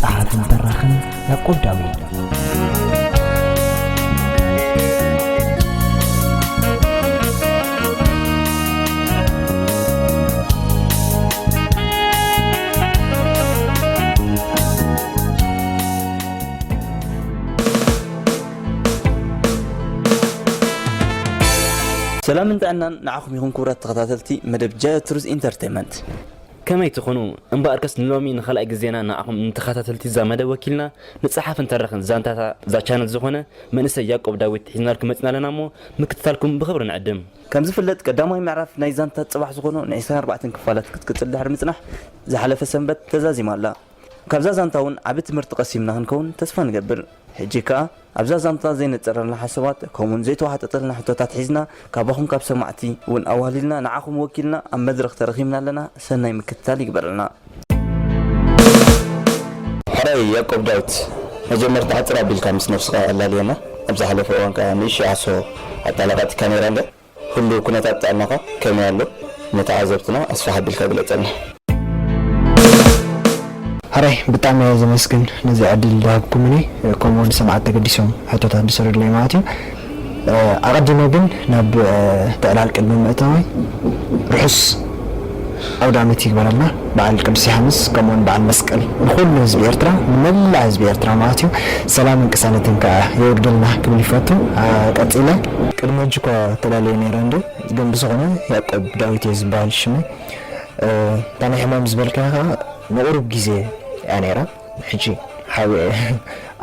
ጸሓፍን ተራኽን ያዕቆብ ዳዊት ሰላምን ጥዕናን ንዓኹም ይኹን ክቡራት ተኸታተልቲ መደብ ጃዮ ቱርስ ኢንተርቴይመንት ከመይ ትኹኑ እምበኣርከስ ንሎሚ ንኻልኣይ ግዜና ንዓኹም ንተኻታተልቲ እዛ መደብ ወኪልና ንጸሓፍን ተራኽን ዛንታታ እዛ ቻነል ዝኾነ መንእሰይ ያቆብ ዳዊት ሒዝናልኩም መጺና ኣለና እሞ ምክትታልኩም ብኽብሪ ንዕድም። ከም ዝፍለጥ ቀዳማይ ምዕራፍ ናይ ዛንታ ጽባሕ ዝኾኑ ን ዕስራን ኣርባዕተን ክፋላት ክትቅጽል ድሕሪ ምጽናሕ ዝሓለፈ ሰንበት ተዛዚማ ኣላ። ካብዛ ዛንታ ውን ዓቢ ትምህርቲ ቀሲምና ክንከውን ተስፋ ንገብር። ሕጂ ከኣ። ኣብዛ ዛንታ ዘይነጸረልና ሓሶባት ከምኡውን ዘይተዋሓጠጠልና ሕቶታት ሒዝና ካባኹም ካብ ሰማዕቲ ውን ኣዋህሊልና ንዓኹም ወኪልና ኣብ መድረኽ ተረኺብና ኣለና ሰናይ ምክትታል ይግበረልና። ሕራይ ያቆብ ዳዊት መጀመርታ ሓጽር ኣቢልካ ምስ ነብስኻ ኣላልየና ኣብ ዝሓለፈ እዋን ከኣ ንእሽቶ ዓሶ ኣጣላቃጢካ ነይራ እንድያ። ህሉው ኩነታት ጥዕናኻ ከመይ ኣሎ? ንተዓዘብትና ኣስፍሕ ኣቢልካ ግለጸልና። ሕራይ ብጣዕሚ እየ ዘመስግን ነዚ ዕድል ዝሃብኩምኒ ከምኡ ውን ሰማዕት ተገዲሶም ሕቶታት ዝስርድለይ ማለት እዩ ኣቀዲመ ግን ናብ እቲ ዕላል ቅድሚ ምእታወይ ርሑስ ኣውዳመት ይግበረልና በዓል ቅዱስ ዮሓንስ ከምኡውን በዓል መስቀል ንኹሉ ህዝቢ ኤርትራ ንመላእ ህዝቢ ኤርትራ ማለት እዩ ሰላምን ቅሳነትን ከኣ የውርደልና ክብል ይፈቱ ቀጺለ ቅድሚ ሕጂ እኳ ተላልየ ነይረ እንድየ ግን ብዝኾነ ያቆብ ዳዊት እየ ዝብሃል ሽመይ እታ ናይ ሕማም ዝበልካያ ከኣ ንቑሩብ ግዜ እያ ነይራ ሕጂ ሓቢኤ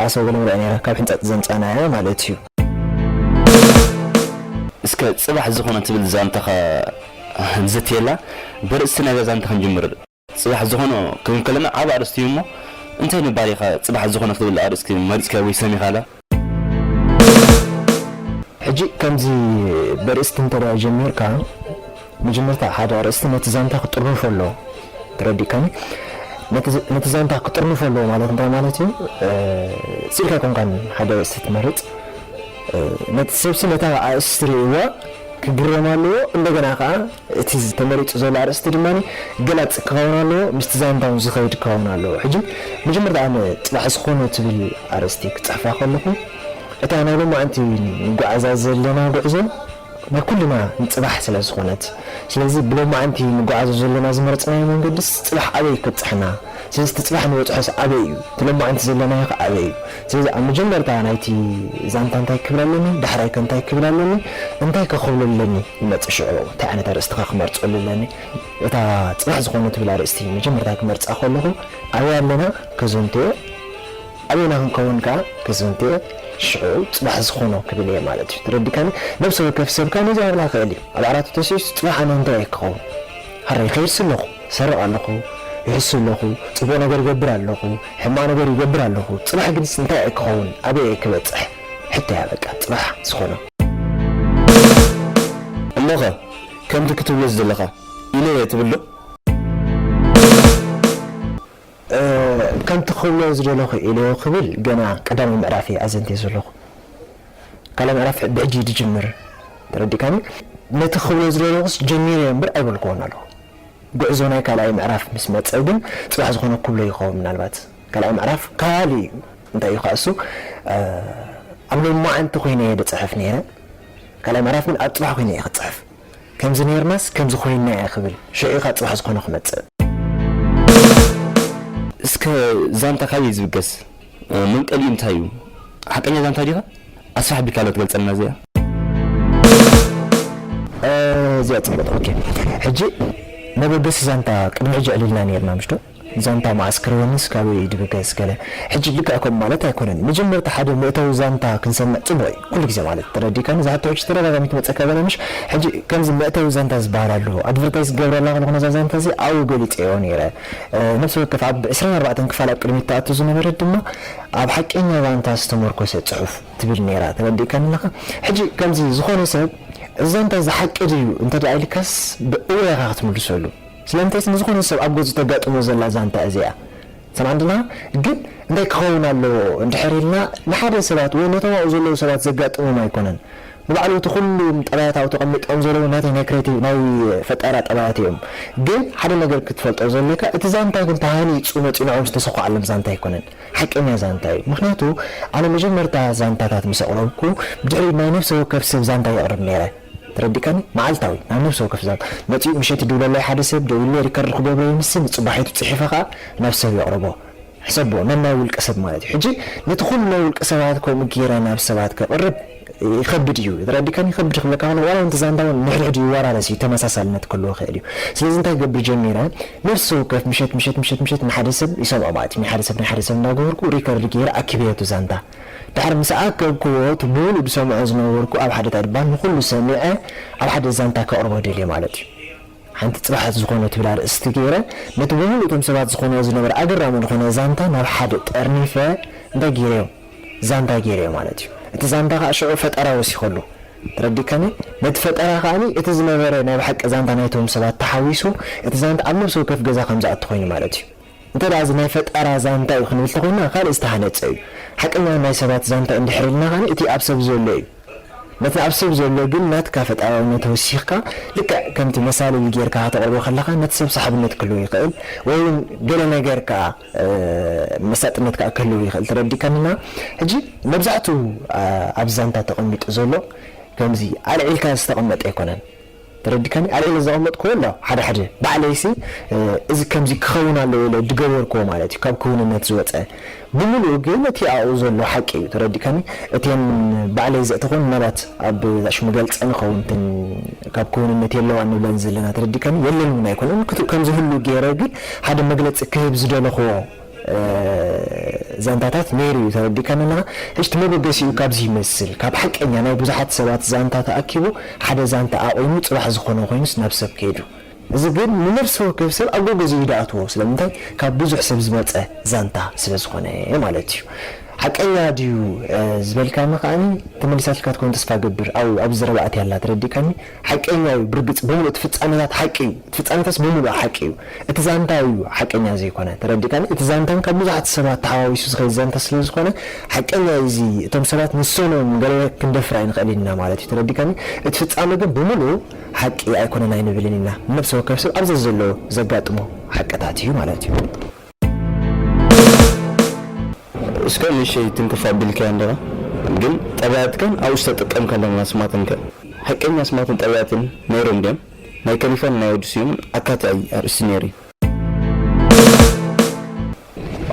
ዓሶ ገለመለ እያ ነይራ ካብ ሕንጻጽ ዘምጻናያ ማለት እዩ። እስከ ጽባሕ ዝኾነ ትብል ዛንታኻ ንዘትየላ። በርእስቲ ናይዛ ዛንታ ክንጅምር። ጽባሕ ዝኾነ ክንብል ከለና ዓቢ ኣርእስቲ እዩ እሞ፣ እንታይ ምባል ኢኻ ጽባሕ ዝኾነ ክትብል ኣርእስቲ መሪጽካዮ ወይ ሰሚኻላ? ሕጂ ከምዚ በርእስቲ እንተድኣ ጀሚርካ መጀመርታ ሓደ ኣርእስቲ ነቲ ዛንታ ክጥርንፎ ኣለዎ ተረዲእካኒ ነቲ ዛንታ ክጥርንፎ ኣለዎ ማለት እንታይ ማለት እዩ ስኢልካ ኣይኮንካን ሓደ ኣርእስቲ ትመርፅ ነቲ ሰብሲ ነታ ኣርእስቲ ርእይዋ ክግረም ኣለዎ እንደገና ከዓ እቲ ዝተመሪፁ ዘሎ ኣርእስቲ ድማ ገላፂ ክኸውን ኣለዎ ምስቲ ዛንታ እውን ዝኸይድ ክኸውን ኣለዎ ሕጂ መጀመርታ ኣነ ፅባሕ ዝኾነ ትብል ኣርእስቲ ክፅሕፋ ከለኹ እታ ናይ ሎማዕንቲ ንጓዓዛ ዘለና ጉዕዞ ናይ ኩልና ንጽባሕ ስለ ዝኾነት። ስለዚ ብሎማዕንቲ ንጎዓዞ ዘሎና ዝመረጽናዮ መንገድስ ጽባሕ ኣበይ እዩ ከብጽሓና? ስለዚ እቲ ጽባሕ ንበጽሖስ ኣበይ እዩ? እቲ ሎማዕንቲ ዘሎናዮ ከ ኣበይ እዩ? ስለዚ ኣብ መጀመርታ ናይቲ ዛንታ እንታይ ክብል ኣለኒ? ዳሕራይ ከ እንታይ ክብል ኣለኒ? እንታይ ከ ክብሎ ኣለኒ? ይመጽእ ሽዑ እንታይ ዓይነት ኣርእስቲ ከ ክመርጸሉ ኣለኒ? እታ ጽባሕ ዝኾነት ትብል ኣርእስቲ መጀመርታ ክመርጻ ከለኹ ኣበይ ኣለና ከዘንትዮ? ኣበይና ክንከውን ከኣ ክዝንት እየ፣ ሽዑ ጽባሕ ዝኾኖ ክብል እየ ማለት እዩ። ተረዲካኒ? ነብሰ ወከፍ ሰብ ከኣ ነዚ ክብል ክእል እዩ። ኣብ ዓራቱ ተሲኡስ ጽባሕ ኣነ እንታይ እየ ክኸውን? ሐራይ ይኸይድሲ ኣለኹ፣ ይሰርቕ ኣለኹ፣ ይሕሱ ኣለኹ፣ ጽቡቕ ነገር ይገብር ኣለኹ፣ ሕማቕ ነገር ይገብር ኣለኹ፣ ጽባሕ ግንስ እንታይ እየ ክኸውን? ኣበይ እየ ክበጽሕ? ሕቶ እያ በቃ ጽባሕ ዝኾኖ። እሞኸ ከምቲ ክትብሎ ዝደለኻ ኢለ እየ ትብል ዶ? ከምቲ ክብሎ ዝደለኹ ኢሉ ክብል ገና ቀዳማይ ምዕራፍ እየ ኣዘንትየ ዘለኹ። ካልኣይ ምዕራፍ ብሕጂ እዩ ዝጅምር። ተረዲእካኒ? ነቲ ክብሎ ዝደለኹስ ጀሚረዮ እምበር ኣይበልክዎን ኣለኹ። ጉዕዞ ናይ ካልኣይ ምዕራፍ ምስ መጸ ግን ጽባሕ ዝኾነ ክብሎ ይኸውን ምናልባት። ካልኣይ ምዕራፍ ካሊእ እዩ። እንታይ እዩ ከኣ እሱ ኣብ ሎማዓንቲ ኮይነ እየ ዝጽሕፍ ነይረ። ካልኣይ ምዕራፍ ግን ኣብ ጽባሕ ኮይነ እየ ክጽሕፍ። ከምዚ ኔርናስ ከምዚ ኮይንና እየ ክብል ሽዒካ ፅባሕ ዝኮነ ክመፅእ። እስከ ዛንታ ካበይ ዝብገስ መንቀሊኡ እንታይ እዩ ሓቀኛ ዛንታ ዲካ ኣስፍሕ ኣቢልካ ዶ ትገልፀልና እዚኣ። ኣዚያ ፅብቅቲ ኦኬ ሕጂ መበገሲ ዛንታ ቅድሚ ሕጂ የዕልልና ነይርና ምሽዶ። ዛንታ መኣስ ክርበኒ ስጋበይ እዩ ድብገስ ገለ ሕጂ ልክዕ ከምኡ ማለት ኣይኮነን መጀመርታ ሓደ መእተዊ ዛንታ ክንሰምዕ ጽቡቅ እዩ ኩሉ ግዜ ማለት ተረዲእካኒ እዛ ሕቶ ሕጂ ተደጋጋሚት ትመጸካ ዘላ ምሽ ሕጂ ከምዚ መእተዊ ዛንታ ዝብሃል ኣሎ ኣድቨርታይዝ ክገብረላ ከለኩ ነዛ ዛንታ እዚኣ ኣብኡ ገሊጸዮ ነይረ ነብሲ ወከፍ ኣብ ዕስራን ኣርባዕተን ክፋል ኣብ ቅድሚት ትኣቱ ዝነበረት ድማ ኣብ ሓቀኛ ዛንታ ዝተመርኮሰ ጽሑፍ ትብል ነይራ ተረዲእካኒ ኣለካ ሕጂ ከምዚ ዝኮነ ሰብ እዚ ዛንታ እዚ ሓቂ ድዩ እንተ ኢልካስ ብ እወ ኢካ ክትምልሰሉ። ስለምንታይስ ንዝኾነ ሰብ ኣብ ገዝኡ ተጋጥሞ ዘላ ዛንታ እዚኣ ሰማዕንድና ግን እንታይ ክኸውን ኣለዎ እንድሕር ኢልና ንሓደ ሰባት ወይ ነቶም ኣብኡ ዘለዉ ሰባት ዘጋጥሞም ኣይኮነን ንባዕሉ እቲ ኩሉም ጠባያት ኣብኡ ተቐሚጦም ዘለዉ ናተይ ናይ ክሬቲቭ ናይ ፈጠራ ጠባያት እዮም ግን ሓደ ነገር ክትፈልጦ ዘልካ እቲ ዛንታ ግን ተሃኒጹ መጺኡ ንዕኦም ዝተሰኹዓሎም ዛንታ ኣይኮነን ሓቀኛ ዛንታ እዩ ምኽንያቱ ኣነ መጀመርታ ዛንታታት ምስ ኣቕረብኩ ብድሕሪኡ ናይ ነፍሰ ወከፍ ሰብ ዛንታ የቕርብ ኔረ ተረዲእካኒ መዓልታዊ ናብ ነብሲ ወከፍ ዛንታ መጺኡ ምሸት ይድውለለይ ሓደ ሰብ ደዊሉ ሪከርድ ክገብሮ ይምስን ጽባሒቱ ጺሒፈ ከኣ ናብ ሰብ የቕርቦ ሕሰቦ ነናይ ውልቀ ሰብ ማለት እዩ ሕጂ ነቲ ኩሉ ናይ ውልቀ ሰባት ከምኡ ጌረ ናብ ሰባት ከቕርብ ይኸብድ እዩ ተረዲእካኒ ይኸብድ ክብለካ ከለኹ ዋላ ነቲ ዛንታ ውን ንሕድሕዱ ይወራረስ እዩ ተመሳሳልነት ክህልዎ ይኽእል እዩ ስለዚ እንታይ ክገብር ጀሚረ ነብሲ ወከፍ ምሸት ምሸት ምሸት ምሸት ንሓደ ሰብ ይሰምዖ ማለት እዩ ናይ ሓደ ሰብ ናይ ሓደ ሰብ እንዳገበርኩ ሪከርድ ጌረ ኣኪበዮ እቲ ዛንታ ድሕሪ ምስ ኣከብክዎ እቲ ምሉእ ዝሰምዖ ዝነበርኩ ኣብ ሓደ ታድባን ንኹሉ ሰሚዐ ኣብ ሓደ ዛንታ ከቕርቦ ደልየ ማለት እዩ። ሓንቲ ጽባሕ ዝኾነ ትብል ኣርእስቲ ገይረ ነቲ ብምሉእ እቶም ሰባት ዝኾንዎ ዝነበረ ኣገራሚ ዝኾነ ዛንታ ናብ ሓደ ጠርኒፈ እንታይ ገይረዮ ዛንታ ገይረዮ ማለት እዩ። እቲ ዛንታ ከኣ ሽዑ ፈጠራ ወሲኸሉ። ተረዲእካኒ? ነቲ ፈጠራ ከኣ እቲ ዝነበረ ናይ ብሓቂ ዛንታ ናይቶም ሰባት ተሓዊሱ እቲ ዛንታ ኣብ ነብሲ ወከፍ ገዛ ከም ዝኣቱ ኮይኑ ማለት እዩ። እንተድኣ እዚ ናይ ፈጠራ ዛንታ እዩ ክንብል ተኾይና ካልእ ዝተሃነጸ እዩ። ሓቀኛ ናይ ሰባት ዛንታ እንድሕር ኢልና ከኣ እቲ ኣብ ሰብ ዘሎ እዩ። ነቲ ኣብ ሰብ ዘሎ ግን ናትካ ፈጠራውነት ወሲኽካ ልክዕ ከምቲ መሳልል ጌርካ ከተቕርቦ ከለኻ ነቲ ሰብ ሰሓብነት ክህልዎ ይኽእል ወይ ውን ገለ ነገር ከኣ መሳጥነት ከኣ ክህልዎ ይኽእል ተረዲእካኒ እና ሕጂ መብዛሕቱ ኣብዚ ዛንታ ተቐሚጡ ዘሎ ከምዚ ኣልዒልካ ዝተቐመጠ ኣይኮነን። ተረዲካኒ ኣልዒለ ዘቀመጥክዎ ኣሎ ሓደ ሓደ ባዕለይሲ እዚ ከምዚ ክከውን ኣለዎ ኢለ ድገበርክዎ ማለት እዩ ካብ ክውንነት ዝወጸ ብምሉኡ ግን እቲ ኣብኡ ዘሎ ሓቂ እዩ ተረዲካኒ እቴን ባዕለይ ዘእተክወን ምናልባት ኣብ ዛሽ ምገልጸን ይከውን እተን ካብ ክውንነት የለዋን ንብለን ዘለና ተረዲካኒ የለን ውን ኣይኮነን ክቱ ከምዝህሉ ገይረ ግን ሓደ መግለጺ ክህብ ዝደለክዎ ዛንታታት ነይሩ እዩ ተረዲእካኒ ኣለኻ ሕጂ እቲ መበገሲኡ ካብዚ ይመስል ካብ ሓቀኛ ናይ ብዙሓት ሰባት ዛንታ ተኣኪቡ ሓደ ዛንታ ኣቑሙ ጽባሕ ዝኾኖ ኮይኑስ ናብ ሰብ ከይዱ እዚ ግን ንነፍሲ ወከፍ ሰብ ኣብ ጎገዜኡ ይድኣትዎ ስለምንታይ ካብ ብዙሕ ሰብ ዝመጸ ዛንታ ስለ ዝኾነ ማለት እዩ ሓቀኛ ድዩ ዝበልካኒ ከኣ ተመሊሳትልካ ትከውን ተስፋ እገብር ኣብኡ ኣብዚ ዘረባ ኣትያ ኣላ ተረዲእካኒ። ሓቀኛ እዩ ብርግጽ ብምሉእ እቲ ፍጻሜታት ሓቂ እዩ እቲ ፍጻሜታትስ ብምሉኡ ሓቂ እዩ እቲ ዛንታ እዩ ሓቀኛ ዘይኮነ ተረዲእካኒ እቲ ዛንታ ካብ ብዙሓት ሰባት ተሓዋዊሱ ዝኸይድ ዛንታ ስለዝኾነ ሓቀኛ እዩ እዚ እቶም ሰባት ንሶም እዮም ገለ ክንደፍር ኣይንኽእልን ኢና ማለት እዩ ተረዲእካኒ እቲ ፍጻሜ ግን ብምሉኡ ሓቂ ኣይኮነን ኣይንብልን ኢና ንነብሰ ወከፍ ሰብ ኣብ ዘዘለዎ ዘጋጥሞ ሓቅታት እዩ ማለት እዩ። እስከ ንእሽተይ ትንክፍ ኣቢልካያ እንዲኻ ግን ጠባያት ከ ኣብኡ ዝተጠቀምካሎም ኣስማትን ከ? ሓቀኛ ኣስማትን ጠባያትን ነይሮም ድዮም? ናይ ከሊፋን ናይ ወዲ ስዩምን ኣካታዒ ኣርእስቲ ነይሩ እዩ።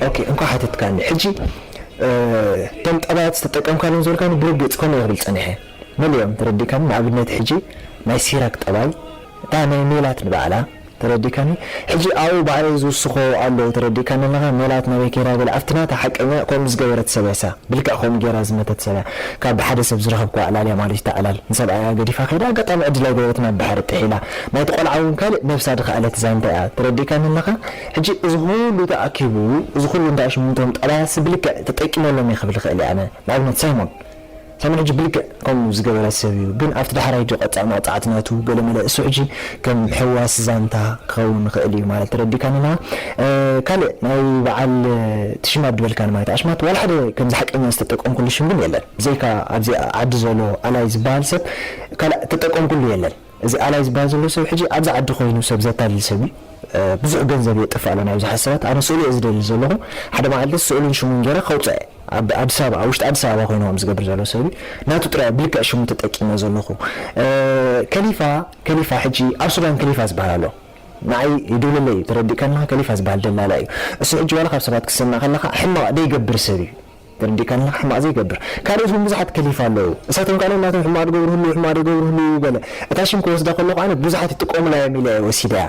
ኦኬ እንኳዕ ሓተትካኒ ሕጂ እቶም ጠባያት ዝተጠቀምካሎም ዝበልካኒ ብርግጽ ከምኡ እየ ክብል ጸኒሐ መሊኦም ተረዲእካኒ ንኣብነት ሕጂ ናይ ሲራክ ጠባይ እታ ናይ ሜላት ንባዕላ ተረዲካኒ ሕጂ ኣብኡ ባዕለይ ዝውስኮ ኣሎ ተረዲካኒ ኣለካ ሜላት ናበይ ከይዳ ገለ ኣብቲ ናታ ሓቀኛ ከምኡ ዝገበረት ሰብ ያሳ ብልክዕ ከምኡ ገይራ ዝመተት ሰብ እያ ካብ ብሓደ ሰብ ዝረከብክዋ ዕላል እያ ማለት እዩ እታ ዕላል ንሰብኣያ ገዲፋ ከይዳ ኣጋጣሚ ዕድል ኣይገበረትን ኣብ ባሕሪ ጥሒላ ናይቲ ቆልዓ ውን ካልእ ነብሳ ድከኣለት ዛንታ እያ ተረዲካኒ ኣለካ ሕጂ እዚ ኩሉ ተኣኪቡ እዚ ኩሉ እንዳ ሽምንቶም ጠባያትሲ ብልክዕ ተጠቂመሎም እየ ክብል ይክእል እየ ኣነ ንኣብነት ሳይሞን ሳሚ ሕጂ ብልክዕ ከምኡ ዝገበረ ሰብ እዩ ግን ኣብቲ ዳሕራይ ድዩ ቀጣዕ መቅጻዕቲ ናቱ ገለመለ እሱ ሕጂ ከም ሕዋስ ዛንታ ክከውን ይክእል እዩ ማለት ተረዲካኒ እማ ካልእ ናይ በዓል ትሽም ኣብ ድበልካኒ ማለት ኣሽማት ዋላ ሓደ ከምዚ ሓቀኛ ዝተጠቀምኩሉ ሽም ግን የለን ብዘይካ ኣብዚ ዓዲ ዞሎ ኣላይ ዝባሃል ሰብ ካልእ ተጠቀምኩሉ የለን እዚ ኣላይ ዝባሃል ዘሎ ሰብ ሕጂ ኣብዚ ዓዲ ኮይኑ ሰብ ዘታልል ሰብ እዩ ብዙሕ ገንዘብ የጥፍእ ኣሎ ናብዚ ሓሳባት ኣነ ስእሉ እየ ዝደሊ ዘለኹ ሓደ መዓልቲ ስእሉን ሽሙን ጌረ ከውጽእ እየ ኣብ ኣዲስ ኣበባ ኣብ ውሽጢ ኣዲስ ኣበባ ኮይኑ ከምዚ ዝገብር ዘሎ ሰብ እዩ ናቱ ጥራይ ብልክዕ ሽሙ ተጠቂመ ዘለኹ ከሊፋ ከሊፋ ሕጂ ኣብ ሱዳን ከሊፋ ዝባሃል ኣሎ ንዓይ ይድውለለይ እዩ ተረዲእካና ከሊፋ ዝባሃል ደላላ እዩ እሱ ሕጂ ዋላ ካብ ሰባት ክትሰምዕ ከለኻ ሕማቕ ደይገብር ሰብ እዩ ተረዲእካኒ ሕማቅ ዘይገብር ካልኦት ውን ብዙሓት ከሊፋ ኣለው እሳቶም ካኣ ነናቶም ሕማቅ ድገብሩ ህልው ሕማቅ ድገብሩ ህልው ገለ እታ ሽም ክወስዳ ከለኩ ኣነ ብዙሓት ይጥቀሙላ እዮም ኢለ እየ ወሲደያ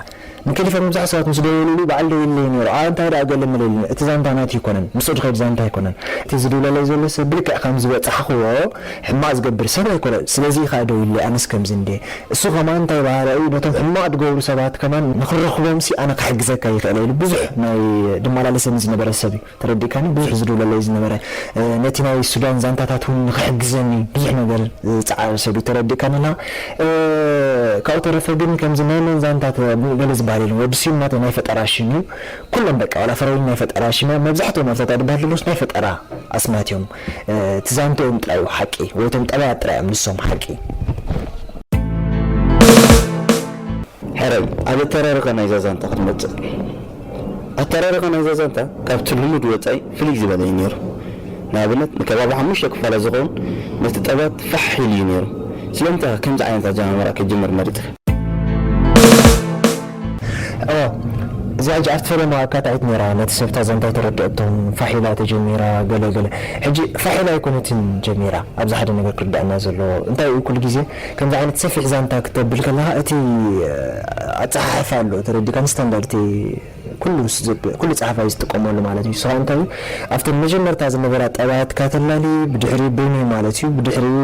ንከሊፋ መብዛሕቱ ሰባት ምስ ደወሉሉይ ባዓል ደዊሉለይ ነይሩ ኣኣ እንታይ ዳኣ ገለ መለ ኢሉኒ እቲ ዛንታ ናቲ ኣይኮነን ምስኡ ድከይድ ዛንታ ኣይኮነን እቲ ዝድውለለይ ዘሎ ሰብ ብልክዕ ከም ዝበጻሕክዎ ሕማቅ ዝገብር ሰብ ኣይኮነን ስለዚ እዩ ካኣ ደዊሉለይ ኣነስ ከምዚ እንድየ እሱ ከማን እንታይ ባሃለ እዩ ነቶም ሕማቅ ድገብሩ ሰባት ከማን ንክረክቦምሲ ኣነ ክሕግዘካ ይክእለ ኢሉ ብዙሕ ናይ ድማላለሰኒ ዝነበረ ሰብ እዩ። ተረዲእካኒ ብዙሕ ዝድውለለይ ዝነበረ ነቲ ናይ ሱዳን ዛንታታት ውን ንኽሕግዘኒ ብዙሕ ነገር ዝጸዓረ ሰብ እዩ ተረዲእካኒ ኣለኻ ካብኡ ተረፈ ግን ከምዚ ናይ መን ዛንታ ገለ ዝበሃል የለን ወዲ ስዩም ናተይ ናይ ፈጠራ ሽም እዩ ኩሎም በቃ ዋላ ፍረወይኒ ናይ ፈጠራ ሽም እያ መብዛሕትኦም ኣብዛ ጓል በሃል ዘለኹስ ናይ ፈጠራ ኣስማት እዮም እቲ ዛንትኦም ጥራይ እዩ ሓቂ ወይ እቶም ጠባያት ጥራይ እዮም ንሶም ሓቂ ሕራይ ኣብ እተረርኸ ናይዛ ዛንታ ክትመጽእ ኣተራርኻ ናይ ዛዛንታ ካብቲ ልሙድ ወጻኢ ፍልይ ዝበለ እዩ ነይሩ። ንኣብነት ንከባቢ ሓሙሽተ ክፋላት ዝኸውን ነጥጠባት ፋሕ ኢሉ እዩ ነይሩ። ስለምንታይ ኢኻ ከምዚ ዓይነት ኣጀማምራ ክትጅምር መሪጽካ? እወ፣ እዚኣ ሕጂ ኣብቲ ፈለማ ኣካታዒት ነይራ። ነቲ ሰብ እታ ዛንታ ኣይተረድኣቶ፣ ፋሕ ኢላ ተጀሚራ ገለ ገለ። ሕጂ ፋሕ ኢላ ኣይኮነትን ጀሚራ። ኣብዚ ሓደ ነገር ክርድኣና ዘለዎ፣ እንታይ እዩ ኩሉ ግዜ ከምዚ ዓይነት ሰፊሕ ዛንታ ክተብል ከለኻ እቲ ኣጸሓሕፋ ኣሎ ተረዲካኒ ስታንዳርድ እቲ ኩሉ ኩሉ ጸሓፋይ ዝጥቀመሉ ማለት እዩ ስኻ እንታይ እዩ ኣብተን መጀመርታ ዝነበራ ጠባያትካ ተላሊ ብድሕሪ በይኑ ማለት እዩ ብድሕሪኡ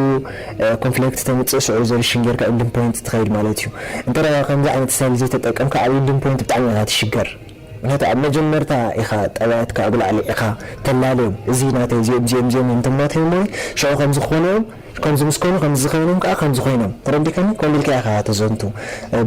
ኮንፍሌክት ተምጽእ ሽዑ ሪዞሉሽን ጌርካ ኢንዲንግ ፖይንት ትኸይድ ማለት እዩ እንተ ከምዚ ዓይነት ስታይል ዘይተጠቀምካ ኣብ ኢንዲንግ ፖይንት ብጣዕሚ ኢኻ ትሽገር ምክንያቱ ኣብ መጀመርታ ኢኻ ጠባያትካ ኣብ ላዕሊ ኢኻ ተላልዮም እዚ ናተይ እዚኦም እዚኦም እዚኦም እዮም ተማትዮም ወይ ሽዑ ከምዚ ክኾኑ እዮም ከምዚ ምስ ኮኑ ከምዚ ከይኖም ከኣ ከምዚ ኮይኖም ተረዲካኒ ኮምዚ ኢልካ ኢካ ተዘንቱ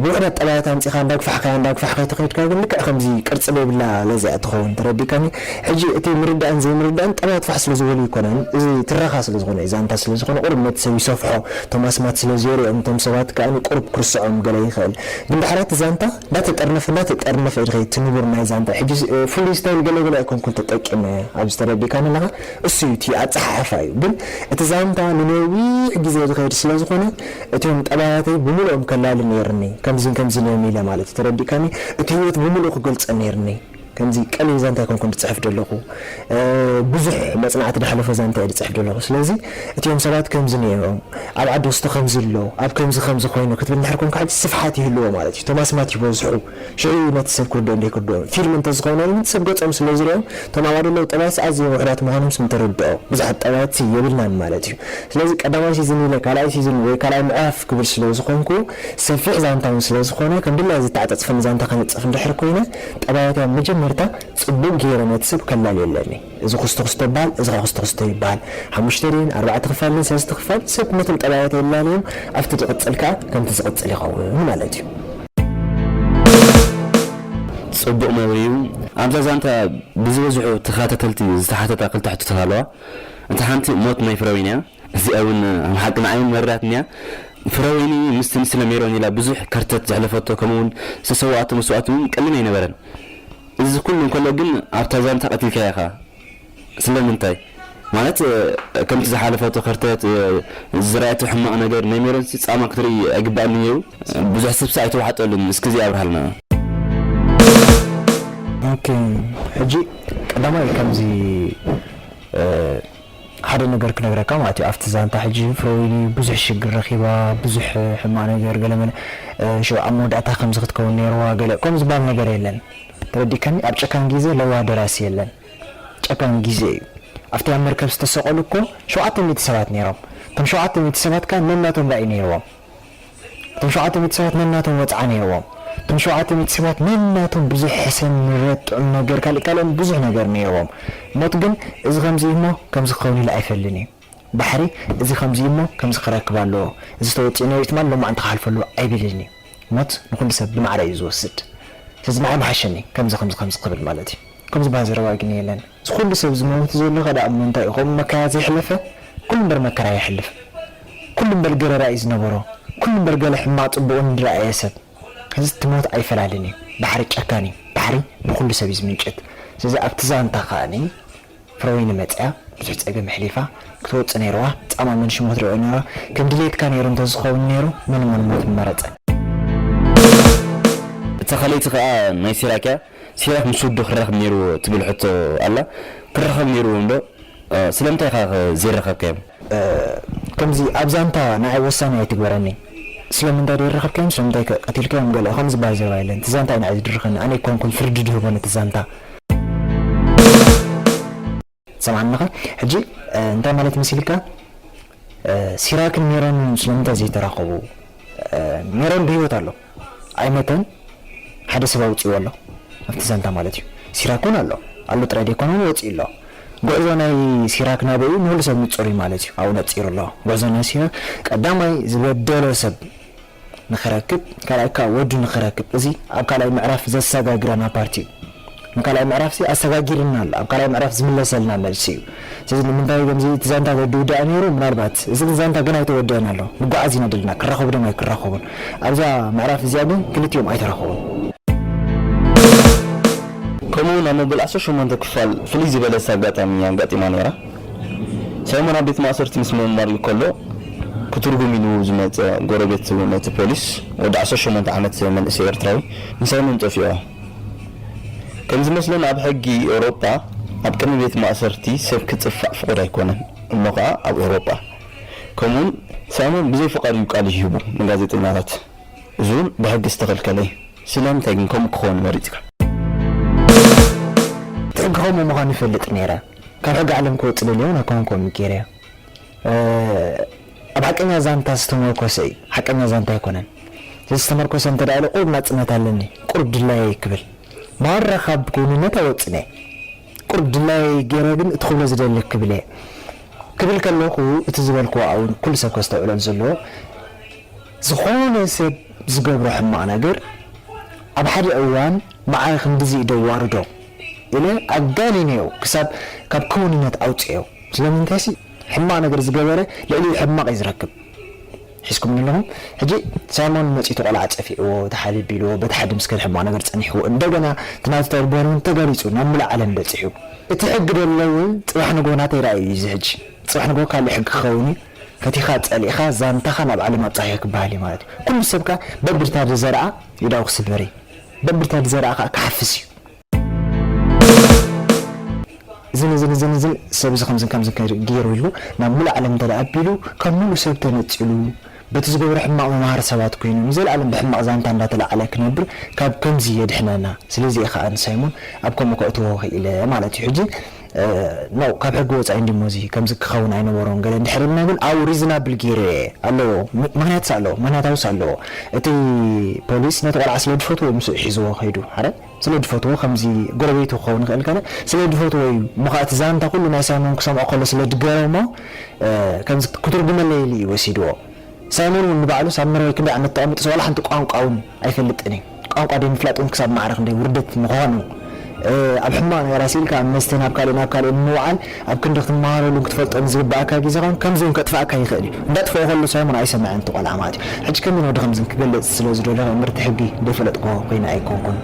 ብውሕዳት ጠባያት ኣምጺካ እንዳ ጉፋሕካያ እንዳ ጉፋሕካያ ተከይድካ ግን ልክዕ ከምዚ ቅርጺ ደይብላ ለዘያ ትከውን ተረዲካኒ ሕጂ እቲ ምርዳእን ዘይምርዳእን ጠባያት ፋሕ ስለ ዝበሉ ኣይኮነን እዚ ትረካ ስለ ዝኮነ እዩ ዛንታ ስለ ዝኮነ ቁሩብ ነቲ ሰብ ይሰፍሖ እቶም ኣስማት ስለ ዝየርኦም እቶም ሰባት ከኣ ቁሩብ ክርስዖም ገለ ይክእል ግን ዳሕራይ እቲ ዛንታ እንዳ ተጠርነፈ እንዳ ተጠርነፈ እዩ ዝከይድ እቲ ንቡር ናይ ዛንታ ሕጂ ፍሉይ ስታይል ገለ ገለ ኣይኮንኩን ተጠቂመ ኣብዚ ተረዲካኒ ኣለካ እሱ እዩ እቲ ኣጸሓሕፋ እዩ ግን እቲ ዛንታ ንነዊሕ ግዜ ዝኸይድ ስለ ዝኾነ እቶም ጠባያተይ ብምልኦም ከላሊ ነይርኒ ከምዚን ከምዚን እዮም ኢለ ማለት እዩ ተረዲእካኒ እቲ ሂወት ብምልኡ ክገልጾ ነይርኒ ከምዚ ቀሊል ዛንታ ኣይኮንኩን ዝጽሕፍ ደለኹ ብዙሕ መጽናዕቲ ዳሕለፎ ዛንታ እየ ዝጽሕፍ ደለኹ ስለዚ እቲኦም ሰባት ከምዚ ነይሮም ኣብ ዓዲ ወስቶ ከምዚ ኣሎ ኣብ ከምዚ ከምዚ ኮይኑ ክትብል እንድሕር ኮንካ ሕጂ ስፍሓት ይህልዎ ማለት እዩ እቶም ኣስማት ይበዝሑ ሽዑ እዩ ነቲ ሰብ ክርድኦን ደይክርድኦን ፊልም እንተዝኾነ እውን ሰብ ገጾም ስለ ዝሪኦም እቶም ኣባል ዘለዉ ጠባያትስ ኣዝዮም ውሑዳት ምዃኖም ስም ተርድኦ ብዙሓት ጠባያትሲ የብልናን ማለት እዩ ስለዚ ቀዳማይ ሲዝን ኢለ ካልኣይ ሲዝን ወይ ካልኣይ ምዕራፍ ክብል ስለ ዝኾንኩ ሰፊሕ ዛንታ እውን ስለ ዝኾነ ከም ድላየይ ዝተዓጸጽፈኒ ዛንታ ከነጽፍ እንድሕር ኮይነ ጠባያት እያ መጀመርታ ጽቡቕ ገይረ ነቲ ሰብ ከላልየለኒ እዚ ኩስቶ ኩስቶ ባል እዚኸ ኩስቶ ኩስቶ ይባሃል ሓሙሽተ ድየን ኣርባዕተ ክፋል ድየን ሰለስተ ክፋል ሰብ ነቶም ጠባያት የላልዮም ኣብቲ ድቅጽል ከኣ ከምቲ ዝቅጽል ይኸውን ማለት እዩ። ጽቡቅ መብርሂ እዩ ኣብዛ ዛንታ ብዝበዝሑ ተካታተልቲ ዝተሓተታ ክልተ ሕቶታት ኣለዋ እታ ሓንቲ ሞት ናይ ፍረወይኒ እያ። እዚኣ ውን ኣብ ሓቂ ንዓይ ውን መሪራትኒ'ያ። ፍረወይኒ ምስቲ ንስለ ሜሮን ኢላ ብዙሕ ከርተት ዘሕለፈቶ ከምኡ ውን ዝተሰወኣቶ መስዋእቲ ውን ቀሊል ኣይነበረን። እዚ ኩሉ እንከሎ ግን ኣብታ ዛንታ ቀቲልካያ ኢኻ። ስለምንታይ? ማለት ከምቲ ዝሓለፈቶ ከርተት፣ ዝረኣየቶ ሕማቕ ነገር፣ ናይ ሜሮንሲ ጻማ ክትርኢ ኣይግባእን ነይሩ? ብዙሕ ሰብሲ ኣይተዋሕጠሉን። እስኪ እዚ ኣብርሃልና። ኦኬ ሕጂ ቀዳማይ ከምዚ ሓደ ነገር ክነግረካ ማለት እዩ ኣብቲ ዛንታ ሕጂ ፍረወይኒ ብዙሕ ሽግር ረኪባ ብዙሕ ሕማቅ ነገር ገለመለ ሽዑ ኣብ መወዳእታ ከምዚ ክትከውን ነይርዋ ገለ ከምኡ ዝባሃል ነገር የለን ተረዲእካኒ ኣብ ጨካን ጊዘ ለዋህ ደራሲ የለን ጨካን ጊዘ እዩ ኣብቲ ኣብ መርከብ ዝተሰቀሉ እኮ ሸውዓተ ሚእቲ ሰባት ነይሮም እቶም ሸውዓተ ሚእቲ ሰባት ከኣ ነናቶም ራኢ ነይርዎም እቶም ሸውዓተ ሚእቲ ሰባት ነናቶም ወጽዓ ነይርዎም። እቶም ሸውዓተ ሚእቲ ሰባት ነናቶም ብዙሕ ሕሰም፣ ምረት፣ ጥዑም ነገር፣ ካልእ ካልእን ብዙሕ ነገር ነይርዎም። ሞት ግን እዚ ከምዚ እዩ እሞ ከምዚ ክኸውን ኢሉ ኣይፈልን እዩ። ባሕሪ እዚ ከምዚ እዩ እሞ ከምዚ ክረክብ ኣለዎ፣ እዚ ተወጺኡ ነይሩ እዩ ትማል ሎማዕንቲ ክሓልፎ ኣለዎ ኣይብልን እዩ። ሞት ንኹሉ ሰብ ብማዕረ እዩ ዝወስድ። ስለዚ ንዓይ ምሓሸኒ ከምዚ ከምዚ ከምዚ ክብል ማለት እዩ። ከምዚ ዝበሃል ዘረባ ግን የለን። እዚ ኩሉ ሰብ ዝመውት ዘሎ ከ ድኣ እሞ እንታይ እዩ ከምኡ መከራ ዘይሕለፈ ኩሉ እምበር መከራ የሕልፍ ኩሉ እምበር ገለ ራኢ ዝነበሮ ኩሉ እምበር ገለ ሕማቅ ጽቡቅን ዝረኣየ ሰብ እዚ እቲ ሞት ኣይፈላልን እዩ ባሕሪ ጨካን እዩ ባሕሪ ንኩሉ ሰብ እዩ ዝምንጭት ስለዚ ኣብቲ ዛንታ ከኣ ፍረወይኒ መጽያ ብዙሕ ጸገም ኣሕሊፋ ክትወጽእ ነይርዋ ጻማ መንሽም ሞት ሪኦ ነይርዋ ከም ድልየትካ ነይሩ እንተ ዝከውን ነይሩ መን እሞ ንሞት ምመረጸ። ተኸለይቲ ከኣ ናይ ሲራክ እያ። ሲራክ ምስ ወዱ ክራከብ ኔርዎ ትብል ሕቶ ኣላ ክራከብ ኔርዎ እንዶ ስለምንታይ ኢካ ከ ዘይራከብካዮም። ከምዚ ኣብ ዛንታ ንዓይ ወሳኒ ኣይትግበረኒ ስለምንታይ ደይራከብካዮም ስለምንታይ ከ ቀቲልካዮም ገለ ከምዚ ዝባሃል ዘረባ የለን እቲ ዛንታ እዩ ንዓይ ዝድርኸኒ ኣነ ኣይኮንኩን ፍርዲ ድህቦ ነቲ ዛንታ። ትሰምዓኒ ኣለኻ ሕጂ እንታይ ማለት መሲልካ ሲራክን ሜሮን ስለምንታይ ዘይተራኸቡ ሜሮን ብሂወት ኣሎ ኣይመተን ሓደ ሰብ ኣውጺዎ ኣሎ ኣብቲ ዛንታ ማለት እዩ ሲራክ እውን ኣሎ ኣሎ ጥራይ ደይኮነ እውን ወጺኡ ኣሎ ጉዕዞ ናይ ሲራክ ናበይ እዩ ንኹሉ ሰብ ንጹር እዩ ማለት እዩ ኣብኡ ነጺሩ ኣሎ ጉዕዞ ናይ ሲራክ ቀዳማይ ዝበደሎ ሰብ ንክረክብ ካልኣይ ክኣ ወዱ ንክረክብ እዚ ኣብ ካልኣይ ምዕራፍ ዘሳጋግራና ፓርቲ እዩ ንካልኣይ ምዕራፍ ሲ ኣሳጋጊርና ኣሎ ኣብ ካልኣይ ምዕራፍ ዝምለሰልና መልሲ እዩ ስለዚ ንምንታይ ከምዚ እቲ ዛንታ ዘይድውዳእ ነይሩ ምናልባት እዚ ግን ዛንታ ገና ኣይተወደኣን ኣሎ ንጉዓዝ ኢና ደልና ክራከቡ ድዮም ኣይክራከቡን ኣብዛ ምዕራፍ እዚኣ ግን ክልቲኦም ኣይተራከቡን ከምኡ ውን ኣብ መበል ዓሰርተ ሸሞንተ ክፋል ፍልይ ዝበለት ኣጋጣሚ ኣጋጢማ ነይራ ሰለሞን ኣብ ቤት ማእሰርቲ ምስ ምርማር ከሎ ክትርጉም ኢሉ ዝመጸ ጎረቤት ነቲ ፖሊስ ወዲ ዓሰርተ ሸሞንተ ዓመት መንእሰይ ኤርትራዊ ንሰለሞን ጠፊኦ። ከምዝመስለኒ ኣብ ሕጊ ኤውሮጳ ኣብ ቅድሚ ቤት ማእሰርቲ ሰብ ክጽፋዕ ፍቑድ ኣይኮነን እሞ ከኣ ኣብ ኤውሮጳ ከምኡውን ሰለሞን ብዘይ ፍቓድ እዩ ቃሉ ሂቡ ንጋዜጠኛታት እዚውን ብሕጊ ዝተኸልከለ እዩ። ስለምንታይ ግን ከምኡ ክኸውን መሪጽካ? ብሕጊ ከምኡ ምዃኑ ይፈልጥ ነይረ። ካብ ሕጊ ዓለም ክወጽእ ደልየ ውን ኣይኮንኩን ጌርያ ኣብ ሓቀኛ ዛንታ ዝተሞርኮሰ እዩ ሓቀኛ ዛንታ ኣይኮነን ስለዚ ዝተመርኮሰ እንተ ኢሉ ቁሩብ ናጽነት ኣለኒ ቁሩብ ድላየይ ክብል ማራ ካብ ጎይንነት ኣይወጽእን እየ ቁሩብ ድላየይ ጌረ ግን እቲ ክብሎ ዝደሊ ክብል እየ ክብል ከለኩ እቲ ዝበልክዎ ኣውን ኩሉ ሰብ ከስተውዕሎ ዘለዎ ዝኮነ ሰብ ዝገብሮ ሕማቅ ነገር ኣብ ሓደ እዋን መዓይ ክንድዚ ኢደ ኣዋርዶ ኢለ ኣጋኒነዮ ክሳብ ካብ ክውንነት ኣውጸዮ ስለምንታይሲ ሕማቅ ነገር ዝገበረ ልዕሊኡ ሕማቅ እዩ ዝረክብ ሒዝኩምኒ ኣለኹም ሕጂ ሳይሞን መጺኡ እቲ ቆልዓ ጸፊዕዎ እቲ ሓልዮ ቢልዎ በቲ ሓዲ ምስ ከደ ሕማቅ ነገር ጸኒሕዎ እንደገና እቲ ናቱ ተግባር ውን ተጋሊጹ ናብ ምሉእ ዓለም በጺሑ እቲ ሕጊ ደሎ ውን ጽባሕ ንግሆ ናተይ ራኢ እዩ እዚ ሕጂ ጽባሕ ንግሆ ካልእ ሕጊ ክኸውን እዩ ፈቲኻ ጸሊእኻ ዛንታኻ ናብ ዓለም ኣብጻሕዮ ክበሃል እዩ ማለት እዩ ኩሉ ሰብ ከኣ በብርታብ ዝዘርኣ ኢዳኡ ክስበር እዩ። ደምብርታ ብዘረኣ ከኣ ክሓፍስ እዩ። እዝን እዝን እዝን እዝን ሰብ እዚ ከምዝን ከምዝን ከ ገይሩ ኢሉ ናብ ምሉእ ዓለም እንተ ኣቢሉ ካብ ምሉእ ሰብ ተነጺሉ በቲ ዝገብሮ ሕማቕ መማሃሪ ሰባት ኮይኑ ንዘልኣለም ብሕማቕ ዛንታ እንዳ ተላዕለ ክነብር ካብ ከምዚ የድሕነና ስለዚ እየ ከኣ ንሳይሞን ኣብ ከምኡ ከእትዎ ክኢለ ማለት እዩ ሕጂ ኖእ ካብ ሕጊ ወጻኢ እንድዩ እሞ እዚ ከምዚ ክከውን ኣይነበሮን ገለ እንድሕር ኢልና ግን ኣብኡ ሪዝናብል ጌረ እየ ኣለዎ ምክንያትስ ኣለዎ ምክንያታዊስ ኣለዎ እቲ ፖሊስ ነቲ ቆልዓ ስለ ድፈትዎ እዩ ምስኡ ሒዝዎ ከይዱ ሓረ ስለ ድፈትዎ ከምዚ ጎረቤቱ ክከውን ይክእል ገለ ስለ ድፈትዎ እዩ እሞ ከኣ እቲ ዛንታ ኩሉ ናይ ሳይሞን ክሰምዖ ከሎ ስለ ድገረሞ ከምዚ ክትርጉመለይ ኢሉ እዩ ወሲድዎ ሳይሞን ውን ንባዕሉ ሳምራዊ ክንደይ ዓመት ተቐሚጡስ ዋላ ሓንቲ ቋንቋ ውን ኣይፈልጥን እዩ ቋንቋ ደይምፍላጥ ውን ክሳብ ማዕረ ክንደይ ውርደት ምዃኑ ኣብ ሕማቕ ነገር ኣሲልካ ኣብ መስተ ናብ ካልእ ናብ ካልእ ንምውዓል ኣብ ክንዲ ክትመሃረሉን ክትፈልጦን ዝግበኣካ ግዜኻን ከምዚ ውን ከጥፍኣካ ይኽእል እዩ እንዳጥፍኦ ከሎ ሳይሞን ኣይሰመዐን እቲ ቆልዓ ማለት እዩ ሕጂ ከመይን ወዲ ከምዝን ክገልጽ ስለ ዝደለኹ እምርቲ ሕጊ ደይፈለጥክዎ ኮይነ ኣይኮንኩን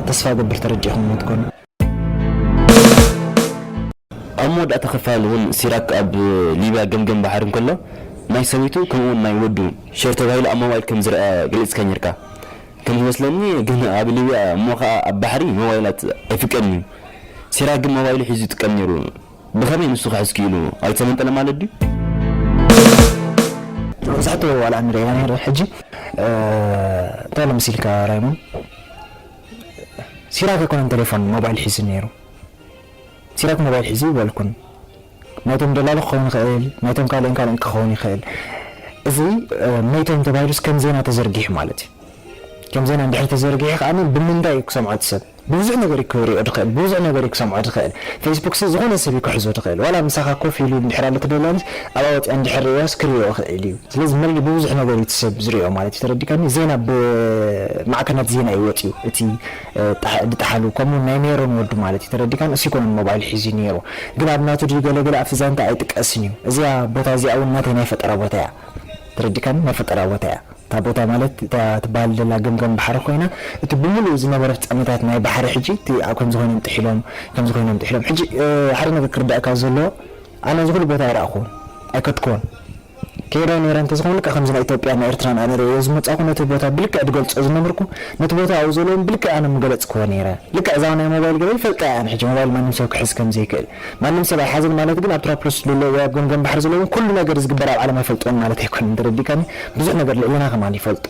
ተስፋ እገብር ተረዲእኩምዎ ትኮኑ። ኣብ መወዳእታ ክፋል እውን ሲራክ ኣብ ሊብያ ገምገም ባሕሪ እንከሎ ናይ ሰበይቱ ከምኡ እውን ናይ ወዱ ሼር ተባሂሉ ኣብ ሞባይል ከም ዝርኣ ገሊጽካ ኔርካ ከም ዝመስለኒ ግን ኣብ ሊብያ እሞ ከኣ ኣብ ባሕሪ ሞባይላት ኣይፍቀድን እዩ ሲራክ ግን ሞባይሉ ሒዙ ይጥቀም ኔሩ ብኸመይ ንሱ ክሕዝ ክኢሉ ኣይተመንጠለን ማለት ድዩ መብዛሕትኡ ዋላ ንሪኢ ኢና ነይሩ ሕጂ እንታይ ኣሎ መሲልካ ራይሞን? ሲራክ ኣይኮነን ተሌፎን ሞባይል ሒዙ ኔሩ ሲራክ ሞባይል ሒዙ ኣይበልኩን ናይቶም ደላሎ ክኸውን ይኽእል ናይቶም ካልእን ካልእን ክኸውን ይኽእል እዚ ሜታይም ተባሂሉስ ከም ዜና ተዘርጊሑ ማለት እዩ ከም ዜና እንድሕር ተዘርጊሑ ከዓኒ ብምንታይ እዩ ክሰምዖ እቲ ሰብ ብብዙሕ ነገር እዩ ክሪኦ ዝኽእል ብብዙሕ ነገር እዩ ክሰምዖ ዝኽእል ፌስቡክሲ ዝኾነ ሰብ እዩ ክሕዞ ዝኽእል ዋላ ምሳኻ ኮፍ ኢሉ እንድሕር ኣሎ ተደላንስ ኣብኣ ወፂኣ እንድሕር ርእያስ ክሪኦ ይኽእል እዩ ስለዚ መሪር ብብዙሕ ነገር እዩ እቲ ሰብ ዝሪኦ ማለት እዩ ተረዲእካኒ ዜና ብማዕከናት ዜና እዩ ወጺኡ እቲ ድጠሓሉ ከምኡ ውን ናይ ሜሮን ወዱ ማለት እዩ ተረዲእካኒ እሱ ኣይኮነን ሞባይል ሒዙ ኔሩ ግን ኣብ ናቱ ድዩ ገለ ገለ ኣብቲ ዛንታ ኣይጥቀስን እዩ እዚኣ ቦታ እዚኣ ውን ናተይ ናይ ፈጠራ ቦታ እያ ተረዲእካኒ ናይ ፈጠራ ቦታ እያ እታ ቦታ ማለት እታ ትበሃል ዘላ ገምገም ባሕሪ ኮይና እቲ ብምሉኡ ዝነበረ ፍጻመታት ናይ ባሕሪ ሕጂ እቲ ከምዚ ኮይኖም ጥሒሎም ከምዚ ኮይኖም ጥሒሎም ሕጂ ሓደ ነገር ክርደኣካ ዘለዎ ኣነ እዚ ኩሉ ቦታ ኣይረኣኹዎን ኣይከድኩዎን ከይደ ነይረ እንተዝከውን ልክዕ ከምዚ ናይ ኢትዮጵያ ን ኤርትራን ኣነ ርእየዮ ዝመጻእኩ ነቲ ቦታ ብልክዕ ድገልጾ ዝነበርኩ ነቲ ቦታ ኣብኡ ዘሎ ውን ብልክዕ ኣነ ምገለጽክዎ ነይረ ልክዕ እዛ ናይ ሞባይል ገለ ይፈልጣ እየ ኣነ ሕጂ ሞባይል ማንም ሰብ ክሕዝ ከምዘይክእል ማንም ሰብ ኣይሓዝን ማለት ግን ኣብ ትራፕሎስ ዘሎ ወይ ኣብ ገምገም ባሕሪ ዘሎ ውን ኩሉ ነገር ዝግበር ኣብ ዓለም ኣይፈልጥዎን ማለት ኣይኮነን ተረዲእካኒ ብዙሕ ነገር ልዕሌና ከማን ይፈልጦ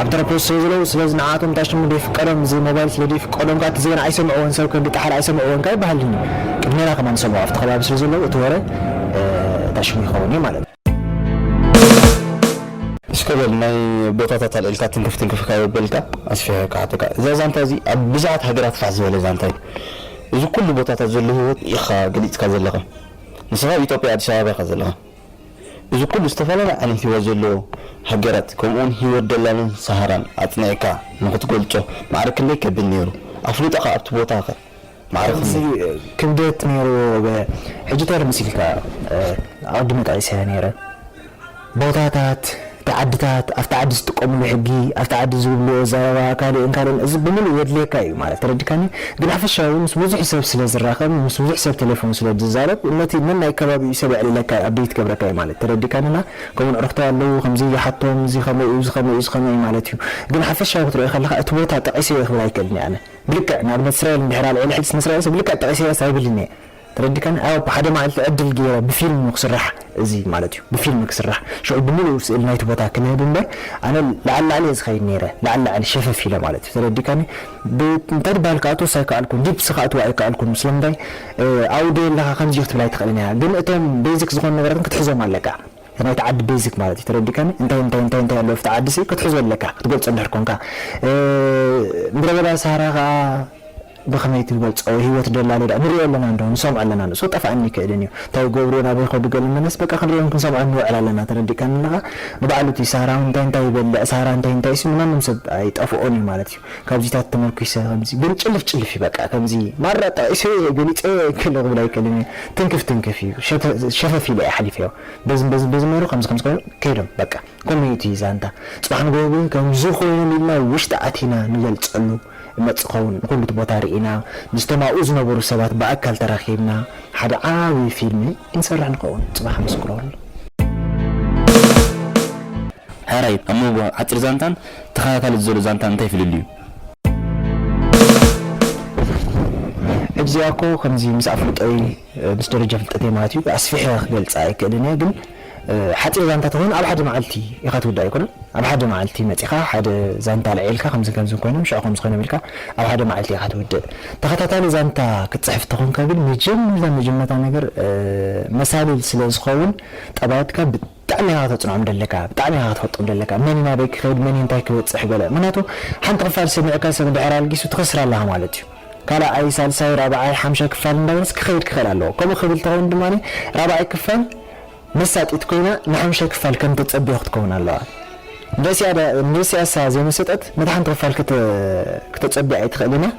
ኣብ ተረፖዝ ስለ ዘለው ስለዚ ንዓኣቶም እንታይ ሽሙ ደይፍቀዶም እዚ ሞባይል ስለ ደይፍቀዶም ከኣ እቲ ዜና ኣይሰምዕዎን ሰብ ከብዲ ጠሓል ኣይሰምዕዎን ከኣ ይበሃልኒ ቅድሜና ከማን ይሰምዑ ኣብቲ ከባቢ ስለ ዘለው እቲ ወረ እንታይ ሽሙ ይኸውን እዩ ማለት እዩ። እስከ በል ናይ ቦታታት ኣልዒልካ ትንክፍ ትንክፍ ካብ ኣበልካ ኣስፊሐ ክሓተካ እዛ ዛንታ እዚ ኣብ ብዙሓት ሃገራት ፋሕ ዝበለ ዛንታ እዩ እዚ ኩሉ ቦታታት ዘሎ ሂወት ኢካ ገሊጽካ ዘለካ ንስካ ኢጦጵያ ኣዲስ ኣበባ ኢካ ዘለካ እዚ ኩሉ ዝተፈላለየ ዓይነት ሂወት ዘለዎ ሃገራት ከምኡ ውን ሂወት ደላሎን ሳሃራን ኣጽኒዕካ ንኽትገልጾ ማዕረ ክንደይ ከቢድ ኔሩ ኣፍልጦኻ ኣብቲ ቦታ ከ ማዕረ ክንደይ ክብደት ኔርዎ ገለ ሕጂ ተር መሲልካ ኣቐዲመ ጠቒሰያ ኔረ ቦታታት። እቲ ዓድታት ኣብቲ ዓዲ ዝጥቀምሉ ሕጊ ኣብቲ ዓዲ ዝብልዎ ኣዛራባ ካልእን ካልእን እዚ ብምሉእ የድልየካ እዩ ማለት ተረዲካኒ ግን ሓፈሻዊ ምስ ቡዙሕ ሰብ ስለ ዝራከብ ምስ ቡዙሕ ሰብ ተሌፎን ስለ ድዛረብ ነቲ ነናይ ከባቢኡ ሰብ የዕልለካ እዩ ኣፕደይት ይገብረካ እዩ ማለት ተረዲካኒ እና ከምኡ ዕርክተይ ኣለዉ ከምዚ ይሓቶም እዚ ከመይ እዩ እዚ ከመይ እዩ እዚ ከመይ እዩ ማለት እዩ ግን ሓፈሻዊ ክትሪኦ ከለካ እቲ ቦታ ጠቂሰዮ ክብል ኣይክእልን እየ ኣነ ብልክዕ ንኣብነት እስራኤል እንድሕር ኣልዒለ ሕጂ ስም እስራኤል ሰብ ልክዕ ጠቂሰያስ ኣይብልን እየ ተረዲካኒ ኣዎ ብሓደ ማዓልቲ ዕድል ገይረ ብፊልም እዩ ክስራሕ እዚ ማለት እዩ ብፊልም ክስራሕ ሽዑ ብምሉኡ ስእሊ ናይቲ ቦታ ክንህብ እምበር ኣነ ላዕሊ ላዕሊ እየ ዝከይድ ነይረ ላዕሊ ላዕሊ ሸፈፍ ኢለ ማለት እዩ ተረዲካኒ ብ እንታይ ትባሃል ክኣትዎስ ኣይካኣልኩን ዲፕስ ክኣትዎ ኣይካኣልኩን ስለምንታይ ኣብኡ ደይ ኣለካ ከምዚ ክትብል ኣይትክእልን ኢካ ግን እቶም ቤዚክ ዝኮኑ ነገራት ግን ክትሕዞም ኣለካ እቲ ናይቲ ዓዲ ቤዚክ ማለት እዩ ተረዲካኒ እንታይ እንታይ እንታይ እንታይ ኣለዎ ኣብቲ ዓዲ ሲ ክትሕዞ ኣለካ ክትገልጾ እንድሕር ኮንካ ምድረበዳ ሳህራ ካኣ ብኸመይ ትገልጾ ሂወት ደላሎ ድኣ ንርእዮ ኣለና እንዶ ንሰምዖ ኣለና ንሱ ክጠፍኣኒ ኣይክእልን እዩ እንታይ ይገብሩ እዮም ኣበይ ይኸዱ ገለ መለስ በቃ ክንርእዮን ክንሰምዖን ንውዕል ኣለና ተረዲእካኒ ኣለኻ ንባዕሉ እቲ ሳራ ውን እንታይ እንታይ ይበልዕ ሳራ እንታይ እንታይ'ሲ ንማንም ሰብ ኣይጠፍኦን እዩ ማለት እዩ ካብዚታት ተመርኲሰ ከምዚ ግን ጭልፍ ጭልፍ እዩ በቃ ከምዚ ማራ ጠቒሰዮ እየ ገሊጸዮ እየ ገለ ክብል ኣይክእልን እየ ትንክፍ ትንክፍ እዩ ሸፈፍ ኢለ እየ ኣሕሊፈዮ በዝን በዝን በዝን ነይሩ ከምዚ ከምዚ ኮይኑ ከይዶም በቃ ከመይ እዩ እቲ ዛንታ ጽባሕ ንግሆ ግን ከምዚ ኮይኖም ኢልና ውሽጢ ኣቲና ንገልጸሉ እመጽእ ክኸውን ንኹሉ እቲ ቦታ ርኢና ምስቶም ኣብኡ ዝነበሩ ሰባት ብኣካል ተራኺብና ሓደ ዓቢ ፊልሚ ክንሰርሕ ንኸውን ጽባሕ ምስክረሉ። ሕራይ፣ ኣብ መንጎ ሓጺር ዛንታን ተኸታታሊ ዘሎ ዛንታን እንታይ ፍልልዩ? እዚኣኮ ከምዚ ምስ ኣፍልጦይ ምስ ደረጃ ፍልጠተይ ማለት እዩ ኣስፊሐ ክገልጻ ኣይክእልን እየ ግን ሓጺር ዛንታ ተኾይና ኣብ ሓደ መዓልቲ ኢኻ ትውዳእ ኣይኮነን ኣብ ሓደ መዓልቲ መጺኻ ሓደ ዛንታ ኣልዒልካ ከምዝን ከምዝን ኮይኖም ሽዑ ከምዚ ኮይኖም ኢልካ ኣብ ሓደ መዓልቲ ኢኻ ትውድእ ተኸታታሊ ዛንታ ክትጽሕፍ ተኾንካ ግን መጀመርታ መጀመርታ ነገር መሳልል ስለዝኸውን ጠባያትካ ብጣዕሚ ኢኻ ከተጽንዖም ደለካ ብጣዕሚ ኢኻ ክትፈልጦም ደለካ መን እዩ ናበይ ክኸይድ መን እዩ እንታይ ክበጽሕ ገለ ምኽንያቱ ሓንቲ ክፋል ሰሚዑካ ሰብ እንድሕር ኣልጊሱ ትኸስር ኣለኻ ማለት እዩ ካልኣይ ሳልሳይ ራብዓይ ሓምሻይ ክፋል እንዳበለስ ክኸይድ ክኽእል ኣለዎ ከምኡ ክብል ተኾይኑ ድማ ራብዓይ ክፋል መሳጢት ኮይና ንሓምሻይ ክፋል ከም ተጸብዮ ክትከውን ኣለዋ። ንስያሳ ዘይመሰጠት ነታ ሓንቲ ክፋል ክተጸቢ ኣይትኽእልን እያ።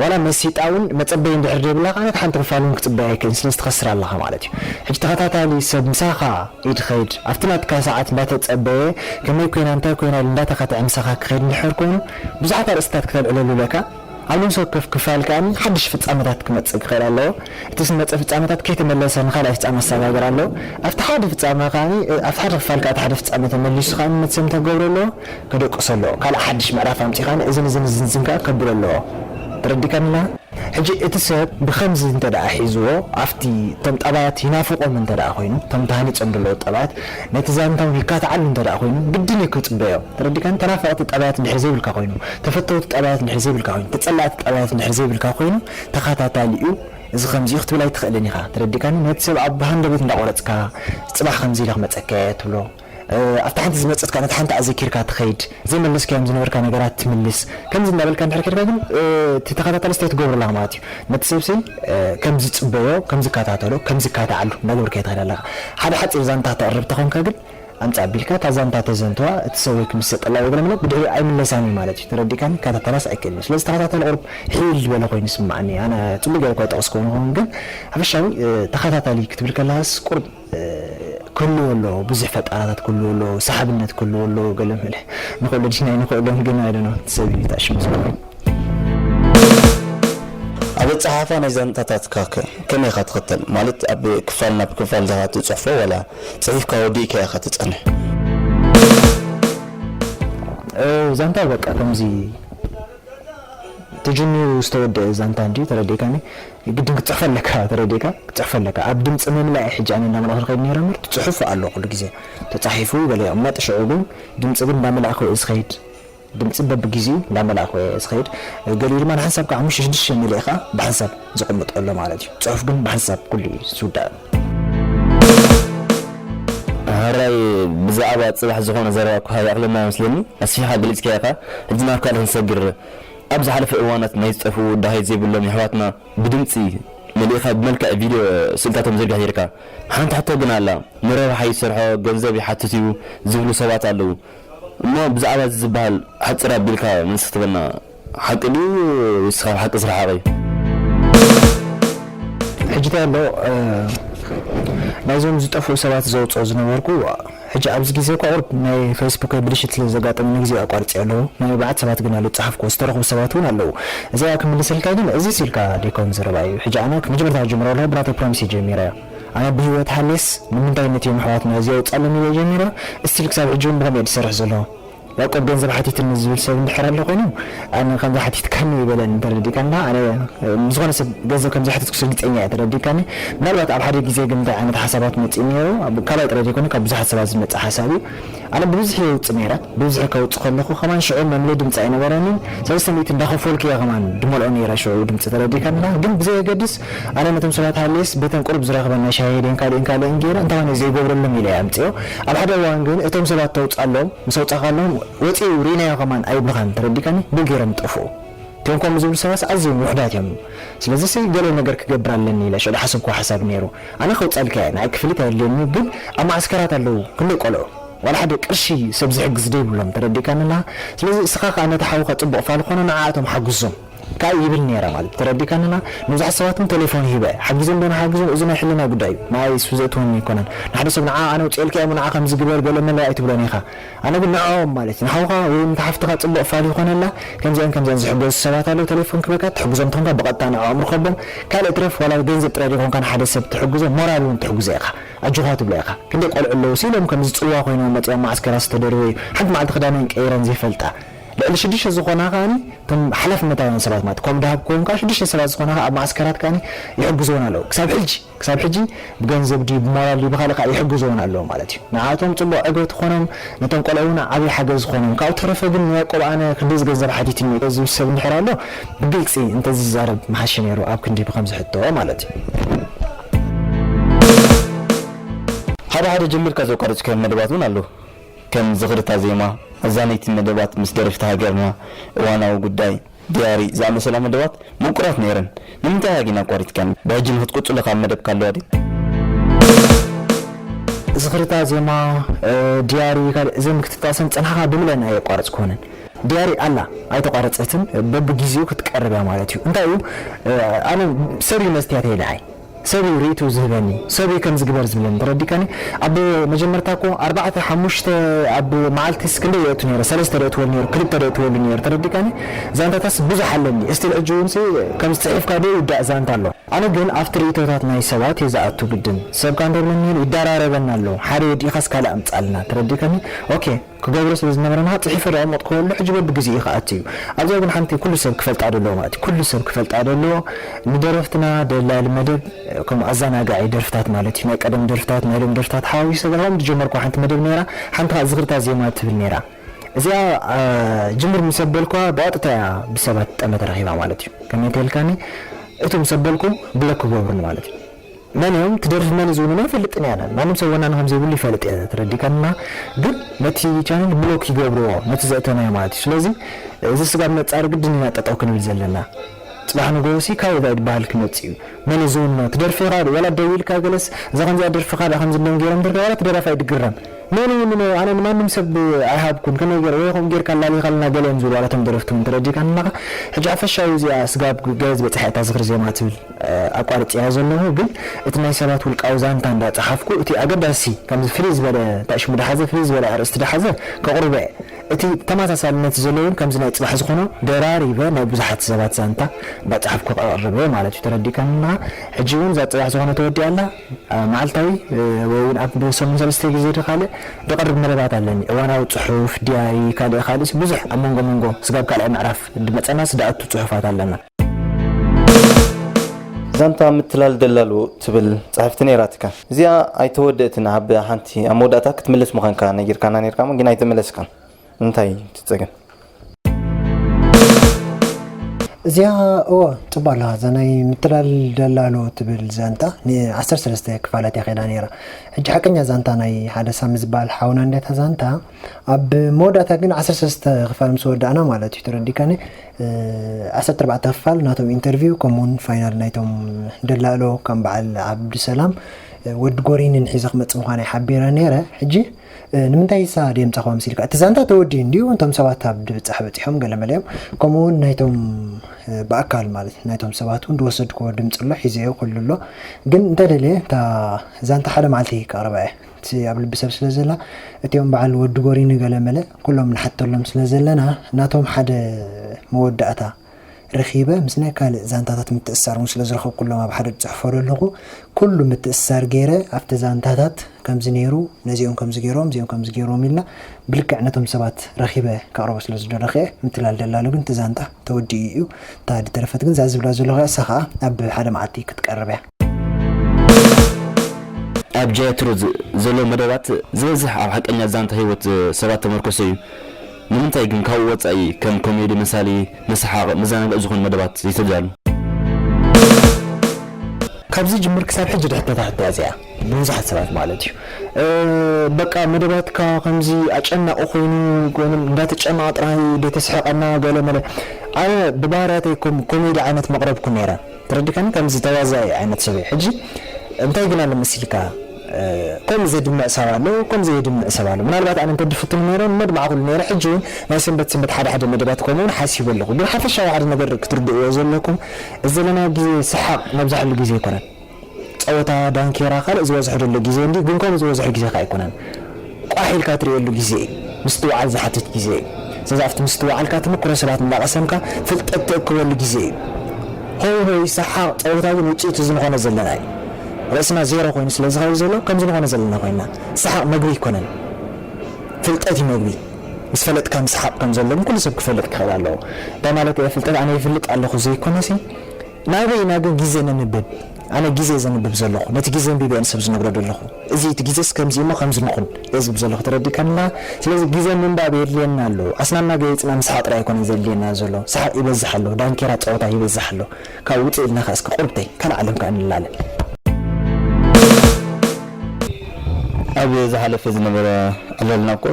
ዋላ መሲጣ ውን መጸበዪ እንድሕር ዘይብላ ከኣ ነታ ሓንቲ ክፋል ውን ክጽበያ ኣይክእልን ስለዚ ትኸስር ኣለኻ ማለት እዩ። ሕጂ ተኸታታሊ ሰብ ምሳኻ እዩ ዝኸይድ ኣብቲ ናትካ ሰዓት እንዳተጸበየ ከመይ ኮይና እንታይ ኮይና ኢሉ እንዳተኸትዐ ምሳኻ ክኸይድ እንድሕር ኮይኑ ብዙሓት ኣርእስትታት ክተልዕለሉ ኣለካ። ኣብ ነብሲ ወከፍ ክፋል ከኣ ሓድሽ ፍጻመታት ክመጽእ ክኽእል ኣለዎ። እቲ ዝመጸ ፍጻመታት ከይተመለሰ ንኻልኣይ ፍጻመ ኣሰጋግር ኣለዎ። ኣብቲ ሓደ ፍጻመ ከኣ ኣብቲ ሓደ ክፋል ከኣ እቲ ሓደ ፍጻመ ተመሊሱ ከኣ መትሰምታ ክገብሮ ኣለዎ፣ ከደቅሶ ኣለዎ። ካልእ ሓድሽ ምዕራፍ ኣምጺኡ ከኣ እዝን እዝን እዝን እዝን ከኣ ከብሎ ኣለዎ። ተረዲካንና? ሕጂ እቲ ሰብ ብኸምዚ እንተደኣ ሒዝዎ ኣብቲ እቶም ጠባያት ይናፍቖም እንተደኣ ኮይኑ እቶም ተሃኒጾም ዘለዉ ጠባያት ነቲ ዛንታ እውን ይካትዓሉ እንተደኣ ኮይኑ ግድን እዩ ክጽበዮ። ተረዲካኒ ተናፈቅቲ ጠባያት ድሕሪ ዘይብልካ ኮይኑ ተፈተውቲ ጠባያት ድሕሪ ዘይብልካ ኮይኑ ተጸላእቲ ጠባያት ድሕሪ ዘይብልካ ኮይኑ ተካታታሊ ዩ እዚ ከምዚ ዩ ክትብል ኣይትክእልን ኢካ ተረዲካኒ ነቲ ሰብ ብ ሃንደበት እንዳ ቆረጽካ ጽባሕ ከምዚ ኢለ ክመጸካ ኢየ ትብሎ ኣብታ ሓንቲ ዝመጸት ከኣ ነታ ሓንቲ ኣዘኪርካ ትከይድ ዘይመለስካዮም ዝነበርካ ነገራት ትምልስ ከምዚ እንዳ በልካ እንድሕር ከድካ ግን እቲ ተካታታሊ ስታይ ትገብሮ ኣለካ ማለት ዩ ነቲ ሰብ ስይ ከም ዝጽበዮ ከም ዝካታተሎ ከም ዝካታዓሉ እንዳ ገበርካዮ ትከድ ኣለካ ሓደ ሓጺር ዛንታ ክተቅርብ ተኮንካ ግን ኣምጽእ ኣቢልካ እታ ዛንታ ተዘንትዋ እቲ ሰብ ወይ ክምሰጠላ ወይ ገለመለ ብድሕሪኡ ኣይምለሳን እዩ ማለት እዩ ተረዲእካኒ ክከታተላስ ኣይክእልን እዩ ስለዚ ተከታታሊ ቁሩብ ሒል ዝበለ ኮይኑ ይስመዓኒ ኣነ ጽቡቅ ገይረ እኳ ኣይጠቀስክዎን ይከውን ግን ሓፈሻዊ ተከታታሊ ክትብል ከለካስ ቁሩብ ክህልዎ ኣለዎ ብዙሕ ፈጣራታት ክህልዎ ኣለዎ ሰሓብነት ክህልዎ ኣለዎ ገለመለ ንክእሎ ዲና ኣይንክእሎን ግን ኣይ ዶኖ እቲ ሰብ እዩ እቲ ኣሽሙ ዝኮነ። ኣብ ኣጸሓሕፋ ናይ ዛንታታትካ ከ ከመይ ኢኻ ትኽተል? ማለት ኣብ ክፋል ናብ ክፋል ዲኻ ትጽሕፎ ዋላ ጽሒፍካ ወዲእካዮ ኢኻ ትጸንሕ? ዛንታ በቃ ከምዚ ተጀሚሩ ዝተወደኣ ዛንታ እንድዩ ተረዲእካኒ። ግድን ክትጽሕፎ ኣለካ ተረዲእካ ክትጽሕፎ ኣለካ። ኣብ ድምጺ ምምላእ እየ ሕጂ ኣነ እንዳመላእኩ ዝኸይድ ነይረ እምበር ትጽሑፍ ኣሎ ኩሉ ግዜ ተጻሒፉ ገለ ይቕመጥ ሽዑ ግን ድምጺ ግን እንዳመላእኩ እየ ዝኸይድ። ድምጺ በብጊዚኡ እንዳመላእኩ እየ ዝኸይድ ገሊኡ ድማ ንሓንሳብካ ሓሙሽተ ሽዱሽተ መሊእኻ ብሓንሳብ ዘቐምጦ ኣሎ ማለት እዩ ጽሑፍ ግን ብሓንሳብ ኩሉ እዩ ዝውዳእ። ሐራይ ብዛዕባ ጽባሕ ዝኾነ ዘረባ እኳ ይኣኽለና መስለኒ ኣስፊሕኻ ገሊጽካዮ ኢኻ ሕጂ ናብ ካልእ ክንሰግር ኣብ ዝሓለፈ እዋናት ናይ ዝጠፍኡ ዳሃይት ዘይብሎም የሕዋትና ብድምጺ መሊእኻ ብመልክዕ ቪድዮ ስእልታቶም ዝርጋሕ ኔርካ ሓንቲ ሕቶ ግን ኣላ ንረብሓ ይሰርሖ ገንዘብ ይሓትት እዩ ዝብሉ ሰባት ኣለዉ እሞ ብዛዕባ እዚ ዝብሃል ሓጽር ኣቢልካ መልሲ ክትበና ሓቂ ድዩ ወይስ ካብ ሓቂ ዝረሓቐ እዩ? ሕጂ ታይ ኣሎ ናይዞም ዝጠፍኡ ሰባት ዘውጽኦ ዝነበርኩ ሕጂ ኣብዚ ግዜ እኳ ቁሩብ ናይ ፈይስቡከይ ብልሽት ስለ ዘጋጠመ ንግዜኡ ኣቋርጼዮ ኣለኹ ናይ ኣርባዕተ ሰባት ግን ኣሎ ዝጸሓፍኩዎ ዝተረኽቡ ሰባት ውን ኣለዉ እዚኣ ክምልሰልካ ግን እዚስ ኢልካ ደይኮን ዘረባ እዩ ሕጂ ኣነ መጀመርታ ክጅምሮ ከለኹ ብናተይ ፕሮሚስ እየ ጀሚረ ኣነ ብሂወት ሃልየስ ንምንታይ ነቲኦም ኣሕዋትና እዚ ኣውጻሎም ኢለ ጀሚረ እስቲል ክሳብ ሕጂ ውን ብከምኡ እየ ድሰርሕ ዘለኩ ያቆብ ገንዘብ ሓቲትኒ ዝብል ሰብ እንድሕር ኣሎ ኮይኑ ኣነ ከምዚ ሓቲትካኒ ኣይበለንን ተረዲእካኒ ዶ ኣነ ንዝኮነ ሰብ ገንዘብ ከምዘይሓተትኩስ ርግጸኛ እየ ተረዲእካኒ ምናልባት ኣብ ሓደ ግዜ ግን እንታይ ዓይነት ሓሳባት መጺኡ ኔሩ ካብ ካልኣይ ጥራይ ዘይኮነ ካብ ብዙሓት ሰባት ዝመጸ ሓሳብ እዩ ኣነ ብብዝሒ የውጽእ ነይረ ብብዝሒ ከውጽእ ከለኩ ከማን ሽዑ መምልኢ ድምጺ ኣይነበረንን ሰለስተ ሚእቲ እንዳከፈልኩ እየ ከማን ድመልኦ ነይረ ሽዑ ድምጺ ተረዲካ እንዳ ግን ብዘየገድስ ኣነ ነቶም ሰባት ሃልየስ በተን ቁሩብ ዝረክበን ናይ ሻሂ ሄደን ካሊእን ካሊእን ገይረ እንተኮነ እዩ ዘይገብረሎም ኢለ እየ ኣምጺኦ ኣብ ሓደ እዋን ግን እቶም ሰባት ተውጻሎም ምስ ኣውጻካሎም ወጺኡ ሪኢናዮ ከማን ኣይብሉካን ተረዲካኒ ብ ገይሮም ይጠፍኡ እቶም ከምኡ ዝብሉ ሰባትስ ኣዝዮም ውሑዳት እዮም። ስለዚሲ ገለ ነገር ክገብር ኣለኒ ኢለ ሽዑ ዝሓሰብክዎ ሓሳብ ነይሩ። ኣነ ከውጽኣልካ እየ፣ ንዓይ ክፍሊት ኣየድልየንን እዩ፣ ግን ኣብ መዓስከራት ኣለዉ ክንደይ ቈልዑ፣ ዋላ ሓደ ቅርሺ ሰብ ዝሕግዝ ደይብሎም፣ ተረዲእካኒ ኣለኻ? ስለዚ እስኻ ከኣ ነቲ ሓውካ ጽቡቕ ፋል ኰኖ ንዓኣቶም ሓግዞም። ከኣ ይብል ነይረ ማለት ተረዲእካኒ ኣለኻ? ንብዙሓት ሰባት'ውን ተሌፎን ሂበ ሓጊዞም ዶ ንሓግዞም እዚ ናይ ሕልና ጉዳይ እዩ፣ ንዓይስ ዘእትወኒ ኣይኰነን። ንሓደ ሰብ ንዓኣ ኣነ ኣውጺኤልካ እየ እሞ ንዓ ከምዚ ግበር ገለ መለ ኣይትብሎን ኢኻ። ኣነ ግን ንዕኦም ማለት ንሓውካ ወይ ውን እታ ሓፍትካ ጽቡቅ ፋል ይኮነላ ከምዚኣን ከምዚኣን ዝሕገዙ ሰባት ኣለው ተሌፎን ክበካ ትሕግዞም ተኮንካ ብቀጥታ ንዕኦም ርኮቦም ካልእ ይትረፍ ዋላ ብገንዘብ ጥራይ ደይኮንካ ንሓደ ሰብ ትሕግዞ ሞራል ውን ትሕግዞ ኢካ ኣጆካ ትብሎ ኢካ ክንደይ ቆልዑ ኣለው ሲኢሎም ከምዚ ጽልዋ ኮይኖም መጺኦም ማዓስከራት ዝተደርበዩ ሓንቲ ማዓልቲ ክዳነን ቀይረን ዘይፈልጣ ልዕሊ ሽዱሽተ ዝኮና ከኣ እቶም ሓላፍነታውያን ሰባት ማለት ኮም ድሃብ ክኮን ከኣ ሽዱሽተ ሰባት ዝኮና ከኣ ኣብ ማዓስከራት ከኣ ይሕግዙወን ኣለው ክሳብ ሕጂ ክሳብ ሕጂ ብገንዘብ ድዩ ብሞራል ድዩ ብካልእ ካኣ ይሕግዝዎን ኣለዉ ማለት እዩ ንዓኣቶም ጽቡቅ ዕግበት ኾኖም ነቶም ቆልዑ ውን ዓቢ ሓገዝ ኾኖም ካብኡ ተረፈ ግን ንያቆብ ኣነ ክንድዚ ገንዘብ ሓቲትኒ ኢለ ዝብል ሰብ እንድሕር ኣሎ ብግልጺ እንተዝዛረብ ምሓሸ ኔሩ ኣብ ክንዲ ብከምዚ ሕቶ ማለት እዩ። ሓደ ሓደ ጀሚርካ ዘቋረጽካዮም መደባት ውን ኣለዉ ከም ዝኽሪ እታ ዜማ ኣዛነይቲ መደባት ምስ ደረፍቲ ሃገርና እዋናዊ ጉዳይ። ድያሪ ዝኣመሰላ መደባት ምቁራት ነይረን ንምንታይ ኢያ ጊን ኣቋሪጽካኒ ብሕጂ ንክትቅጽሎ ካብ መደብካ ኣለዋ ድያ። ዝኽርታ ዜማ ድያሪ ካልእ እዘን ምክትታሰን ጸንሕኻ ብምለን ኣየቋረጽክወንን። ድያሪ ኣላ ኣይተቋረጸትን በብጊዚኡ ክትቀርብ እያ ማለት እዩ እንታይ እዩ ኣነ ሰሪዩ መስትያተይ ደሃይ። ሰብ እዩ ሪኢትኡ ዝህበኒ ሰብ እዩ ከምዚ ግበር ዝብለኒ ተረዲካኒ ኣብ መጀመርታ እኮ ኣርባዕተ ሓሙሽተ ኣብ ማዓልቲስ ክንደይ የእቱ ነይረ ሰለስተ ደእትወሉ ነይሩ ክልተ ደእትወሉ ነይሩ ተረዲካኒ ዛንታታትስ ብዙሕ ኣለኒ እስቲል ሕጂ ውን ሲ ከምዚ ጺሒፍካ ዶ ይውዳእ ዛንታ ኣሎ ኣነ ግን ኣብቲ ሪኢቶታት ናይ ሰባት እየ ዝኣቱ ግድን ሰብካ እንተሎ ኒህል ይዳራረበና ኣሎ ሓደ ወዲእካስ ካልእ ኣምጻልና ተረዲካኒ ኦኬ። ክገብሮ ስለ ዝነበረና ጽሒፈ ደቀመጥኩወሉ ሕጂ በቢ ግዜኡ ይከኣት እዩ ኣብዛ ግን ሓንቲ ኩሉ ሰብ ክፈልጣ ደለዎ ማለት እዩ ኩሉ ሰብ ክፈልጣ ደለዎ ንደረፍትና ደላሊ መደብ ከምኡ ኣዛናጋዒ ደርፍታት ማለት እዩ ናይ ቀደም ደርፍታት ናይ ሎሚ ደርፍታት ሓዋዊሱ ተጋሂሮም ዝጀመርኩዋ ሓንቲ መደብ ኔራ ሓንቲ ከኣ ዝኽርታት ዜማ ትብል ኔራ እዚኣ ጅምር ምስ ኣበልኩዋ ብቐጥታ እያ ብሰባት ጠመተ ረኺባ ማለት እዩ ከመይ እንተልካኒ እቶም ምስ ኣበልኩ ብሎክ ክገብሩኒ ማለት እዩ መን እዮም ክደርፊ መን እዩ ዝብሉና ኣይፈልጥን እየ ኣነ ማንም ሰብ ወናኒ ከምዘይብሉ ይፈልጥ እየ ተረዲእካና ግን ነቲ ቻነል ብሎክ ይገብርዎ ነቲ ዘእተናዮ ማለት እዩ ስለዚ እዚ ስጋብ ነጻሪ ግድን ኢና ጠጠው ክንብል ዘለና ጽባሕ ንግሆሲ ካበይ ባይ ድበሃል ክመጽእ እዩ መን እዩ ዝውንኖ እቲ ደርፊ ካኣ ወላ ደው ኢልካ ገለስ እዛ ከምዚኣ ደርፊ ካኣ ከምዚ እንዲዮም ጌሮም ደርፊ ዋላ እቲ ደራፋይ ድግረም መን ይውንኖ ኣነ ንማንም ሰብ ኣይሃብኩን ከመይ ጌረ ወይ ከምኡ ጌርካ ኣላሊኻልና ገለ እዮም ዝብሉ ዋላ እቶም ደረፍቲ እውን ተረዲእካኒ ኣለኻ ሕጂ ሓፈሻዊ እዚኣ ስጋብ ገለ ዝበጽሓ እያ እታ ዝኽሪ ዜማ ትብል ኣቋርጼያ ዘለኹ ግን እቲ ናይ ሰባት ውልቃዊ ዛንታ እንዳ ጸሓፍኩ እቲ ኣገዳሲ ከምዚ ፍልይ ዝበለ ታእሽሙ ድሓዘ ፍልይ ዝበለ ኣርእስቲ ድሓዘ ከቕርቦ'የ እቲ ተማሳሳልነት ዘሎ ውን ከምዚ ናይ ጽባሕ ዝኾኖ ደራሪበ ናይ ብዙሓት ሰባት ዛንታ እንዳ ጸሓፍኩ ከቕርብ'የ ማለት እዩ ተረዲእካኒ ኣለኻ ሕጂ ውን እዛ ጽባሕ ዝኾነ ተወዲኣ ኣላ መዓልታዊ ወይ ውን ኣብ ሰሙን ሰለስተ ግዜ ዶ ካልእ ድቕርብ መደባት ኣለኒ እዋናዊ ጽሑፍ ዲያሪ ካልእ ካልእስ ብዙሕ ኣብ መንጎ መንጎ ስጋብ ካልኣይ ምዕራፍ ድመጸናስ ድኣቱ ጽሑፋት ኣለና ዛንታ ምትላል ደላሎ ትብል ጸሕፍቲ ነይራትካ እዚኣ ኣይተወደእትን ኣብ ሓንቲ ኣብ መወዳእታ ክትምልስ ምዃንካ ነጊርካና ነርካ እሞ ግን ኣይተመለስካን እንታይ ትጸገም እዚኣ እወ ፅባ ኣለኻ እዛ ናይ ምትላል ደላሎ ትብል ዛንታ ን13 ክፋላት እያ ከይዳ ነይራ ሕጂ ሓቀኛ ዛንታ ናይ ሓደ ሳሚ ዝበሃል ሓውና እንዲያታ ዛንታ ኣብ መወዳእታ ግን ዓሰርተ ሰለስተ ክፋል ምስ ወዳእና ማለት እዩ ተረዲካኒ ዓሰርተ ኣርባዕተ ክፋል ናቶም ኢንተርቪው ከምኡውን ፋይናል ናይቶም ደላሎ ከም በዓል ዓብዱሰላም ወዲ ጎሪንን ሒዘ ክመፅእ ምዃናይ ሓቢረ ነይረ ሕጂ ንምንታይ እሳ ድዮም ፃኹባ መሲልካ እቲ ዛንታ ተወዲኡ እንዲዩ እንቶም ሰባት ኣብ ድብፃሕ በፂሖም ገለ መለ እዮም ከምኡ እውን ናይቶም ብኣካል ማለት ናይቶም ሰባት እውን ዝወሰድክዎ ድምፂ ኣሎ ሒዘዮ ኩሉ ኣሎ ግን እንተደለየ እታ ዛንታ ሓደ መዓልቲ ከቕርባ እየ ሲ ኣብ ልቢ ሰብ ስለ ዘላ እቲኦም በዓል ወዲ ጎሪ ንገለ መለ ኩሎም ንሓተሎም ስለ ዘለና ናቶም ሓደ መወዳእታ ረኺበ ምስ ናይ ካልእ ዛንታታት ምትእስሳር እውን ስለ ዝረኸብኩሎም ኣብ ሓደ ዝጽሕፎ ዘለኹ ኩሉ ምትእስሳር ገይረ ኣብቲ ዛንታታት ከምዚ ነይሩ ነዚኦም ከምዚ ገይሮም እዚኦም ከምዚ ገይሮም ኢልና ብልክዕ ነቶም ሰባት ረኺበ ከቕርቦ ስለ ዝደለኹ እየ ምትላል ደላሎ ግን እቲ ዛንታ ተወዲኡ እዩ እታ ዝተረፈት ግን እዛ ዝብላ ዘለኹ እሳ ከዓ ኣብ ሓደ መዓልቲ ክትቀርብ እያ ኣብ ጃያ ትሩዝ ዘሎ መደባት ዝበዝሕ ኣብ ሓቀኛ ዛንታ ህይወት ሰባት ተመርኮሰ እዩ። ንምንታይ ግን ካብኡ ወጻኢ ከም ኮሜዲ፣ መሳሊ፣ መሳሓቂ፣ መዘናግዒ ዝኾኑ መደባት ዘይተዳሉ? ካብ ዝጅምር ክሳብ ሕጂ ድሕተታ ሕቶኣ እዚኣ ብብዙሓት ሰባት ማለት እዩ በቃ መደባትካ ከምዚ ኣጨናቂ ኮይኑ ጎንም እንዳተጨነቀ ጥራይ ደይ ተስሕቀና ገለ መለ ኣነ ብባህርያተይ ኮሜዲ ዓይነት መቅረብኩ ነይረ ተረዲካኒ ከምዚ ተዋዛኢ ዓይነት ሰብ እየ ሕጂ እንታይ ግን ኣሎ መሲልካ ከምኡ ዘድምዕ ሰብ ኣሎ ከምኡ ዘየድምዕ ሰብ ኣሎ ምናልባት ኣነ እንተ ድፍትን ነይረ ምመድማዕኩሉ ነይረ ሕጂ ውን ናይ ሰንበት ሰንበት ሓደ ሓደ መደባት ከምኡ ውን ሓሲበ ኣለኩ ግን ሓፈሻዊ ሓደ ነገር ክትርድእዎ ዘለኩም እዚ ዘለናዮ ግዜ ሰሓቅ ነብዛሕሉ ግዜ ኣይኮነን ጸወታ ዳንኬራ ካልእ ዝበዝሖ ዘሎ ግዜ እንድዩ ግን ከምኡ ዝበዝሖ ግዜ ከኣ ኣይኮነን ቋሕ ኢልካ ትርእየሉ ግዜ እዩ። ምስትውዓል ዝሓትት ግዜ እዩ። ስለዚ ኣብቲ ምስትውዓልካ ተመክሮ ሰባት እንዳቐሰምካ ፍልጠት ትእክበሉ ግዜ እዩ። ሆይ ሆይ ሰሓቕ ጸወታ ግን ውጽኢቱ እዚ ንኾኖ ዘለና እዩ። ርእስና ዜሮ ኮይኑ ስለ ዝኸይድ ዘሎ ከምዚ ንኾኖ ዘለና ኮይንና። ሰሓቕ መግቢ ኣይኮነን። ፍልጠት እዩ መግቢ። ምስ ፈለጥካ ምስሓቕ ከም ዘሎ ግን ኩሉ ሰብ ክፈልጥ ክኽእል ኣለዎ። እንታይ ማለተይ እየ ፍልጠት ኣነ ይፍልጥ ኣለኹ ዘይኮነሲ፣ ናበይ ናብ ግዜ ነንብብ ኣነ ግዜ ዘንብብ ዘለኹ ነቲ ግዜ ኣንቢበ እየ ንሰብ ዝነግሮ ዘለኹ እዚ እቲ ግዜስ ከምዚ እሞ ከምዚ ንኹን እየ ዝብል ዘለኹ ተረዲእካንና ስለዚ ግዜ ምንባብ የድልየና ኣሎ ኣስናንና ገይጽና ምስሓቕ ጥራይ ኣይኮነን ዘድልየና ዘሎ ሰሓቕ ይበዝሕ ኣሎ ዳንኬራ ጸወታ ይበዝሕ ኣሎ ካብኡ ውጽእ ኢልና ከኣ እስከ ቁርብተይ ካልእ ዓለም ከኣ ንላለ ኣብ ዝሓለፈ ዝነበረ ዕለልና እኮ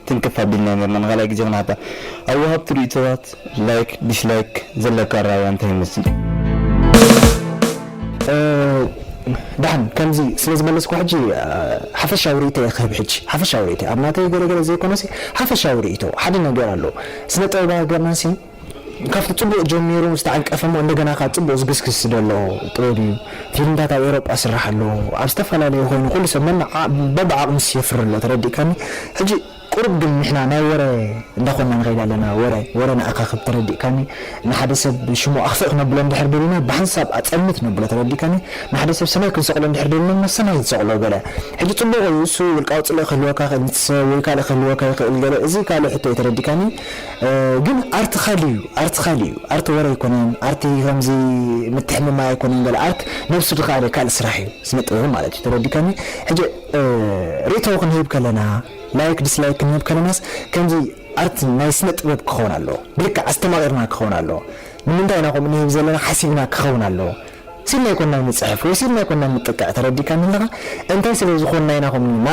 ትንክፍ ኣቢልና ኔርና ንካልኣይ ግዜ ክንሓታ ኣብ ወሃብቲ ሪኢቶታት ላይክ ዲስላይክ ዘለካ ኣረኣእያ እንታይ ይመስል? ደሓን ከምዚ ስለ ዝመለስኩ ሕጂ ሓፈሻዊ ሪኢቶይ እየ ክህብ ሕጂ ሓፈሻዊ ሪኢቶይ ኣብ ናተይ ገለ ገለ ዘይኮነሲ ሓፈሻዊ ሪኢቶ ሓደ ነገር ኣሎ ስነ ጥበብ ሃገርናሲ ካብቲ ጽቡቅ ጀሚሩ ምስ ተዓንቀፈ እሞ እንደገና ከኣ ጽቡቅ ዝግስግስ ዝደሎ ጥበብ እዩ። ፊልምታት ኣብ ኤውሮጳ ይስራሕ ኣሎ ኣብ ዝተፈላለየ ኮይኑ ኩሉ ሰብ ነናዕ በብዓቅሙስ የፍሪ ኣሎ ተረዲእካኒ ሕጂ ቁሩብ ግን ንሕና ናይ ወረ እንዳ ኮና ንከይድ ኣለና ወረ ወረ ነኣካክብ ተረዲእካኒ ንሓደ ሰብ ሽሙ ኣክፍእ ክነብሎ እንድሕር ደሊና ብሓንሳብ ኣጸልምት ነብሎ ተረዲእካኒ ንሓደ ሰብ ሰማይ ክንሰቅሎ እንድሕር ደሊና ናብ ሰማይ ንሰቅሎ ገለ ሕጂ ጽቡቅ እዩ እሱ ውልቃዊ ጽልኢ ክህልወካ ይክእል ንትሰ ወይ ካልእ ክህልወካ ይክእል ገለ እዚ ካልእ ሕቶ እዩ ተረዲእካኒ። ግን ኣርት ኻሊ እዩ ኣርት ኻሊ እዩ ኣርት ወረ ኣይኮነን ኣርት ከምዚ ምትሕምማይ ኣይኮነን ገለ ኣርት ነብሱ ድኻለ ካልእ ስራሕ እዩ ስነ ጥበብ ማለት እዩ ተረዲካኒ ሕጂ ርእቶ ክንህብ ከለና ላይክ ዲስላይክ ክንህብ ከለናስ ከምዚ ኣርት ናይ ስነ ጥበብ ክኸውን ኣለዎ ብልክዕ ኣስተማቒርና ክኸውን ኣለዎ ንምንታይ ኢና ከምኡ ንህብ ዘለና ሓሲብና ክኸውን ኣለዎ ሲል ናይ ኮናይ ምጽሕፍ ወይ ሲል ናይ ኮናይ ምጥቃዕ ተረዲካኒ ኣለካ እንታይ ስለ ዝኮን ናይ ናሆም ን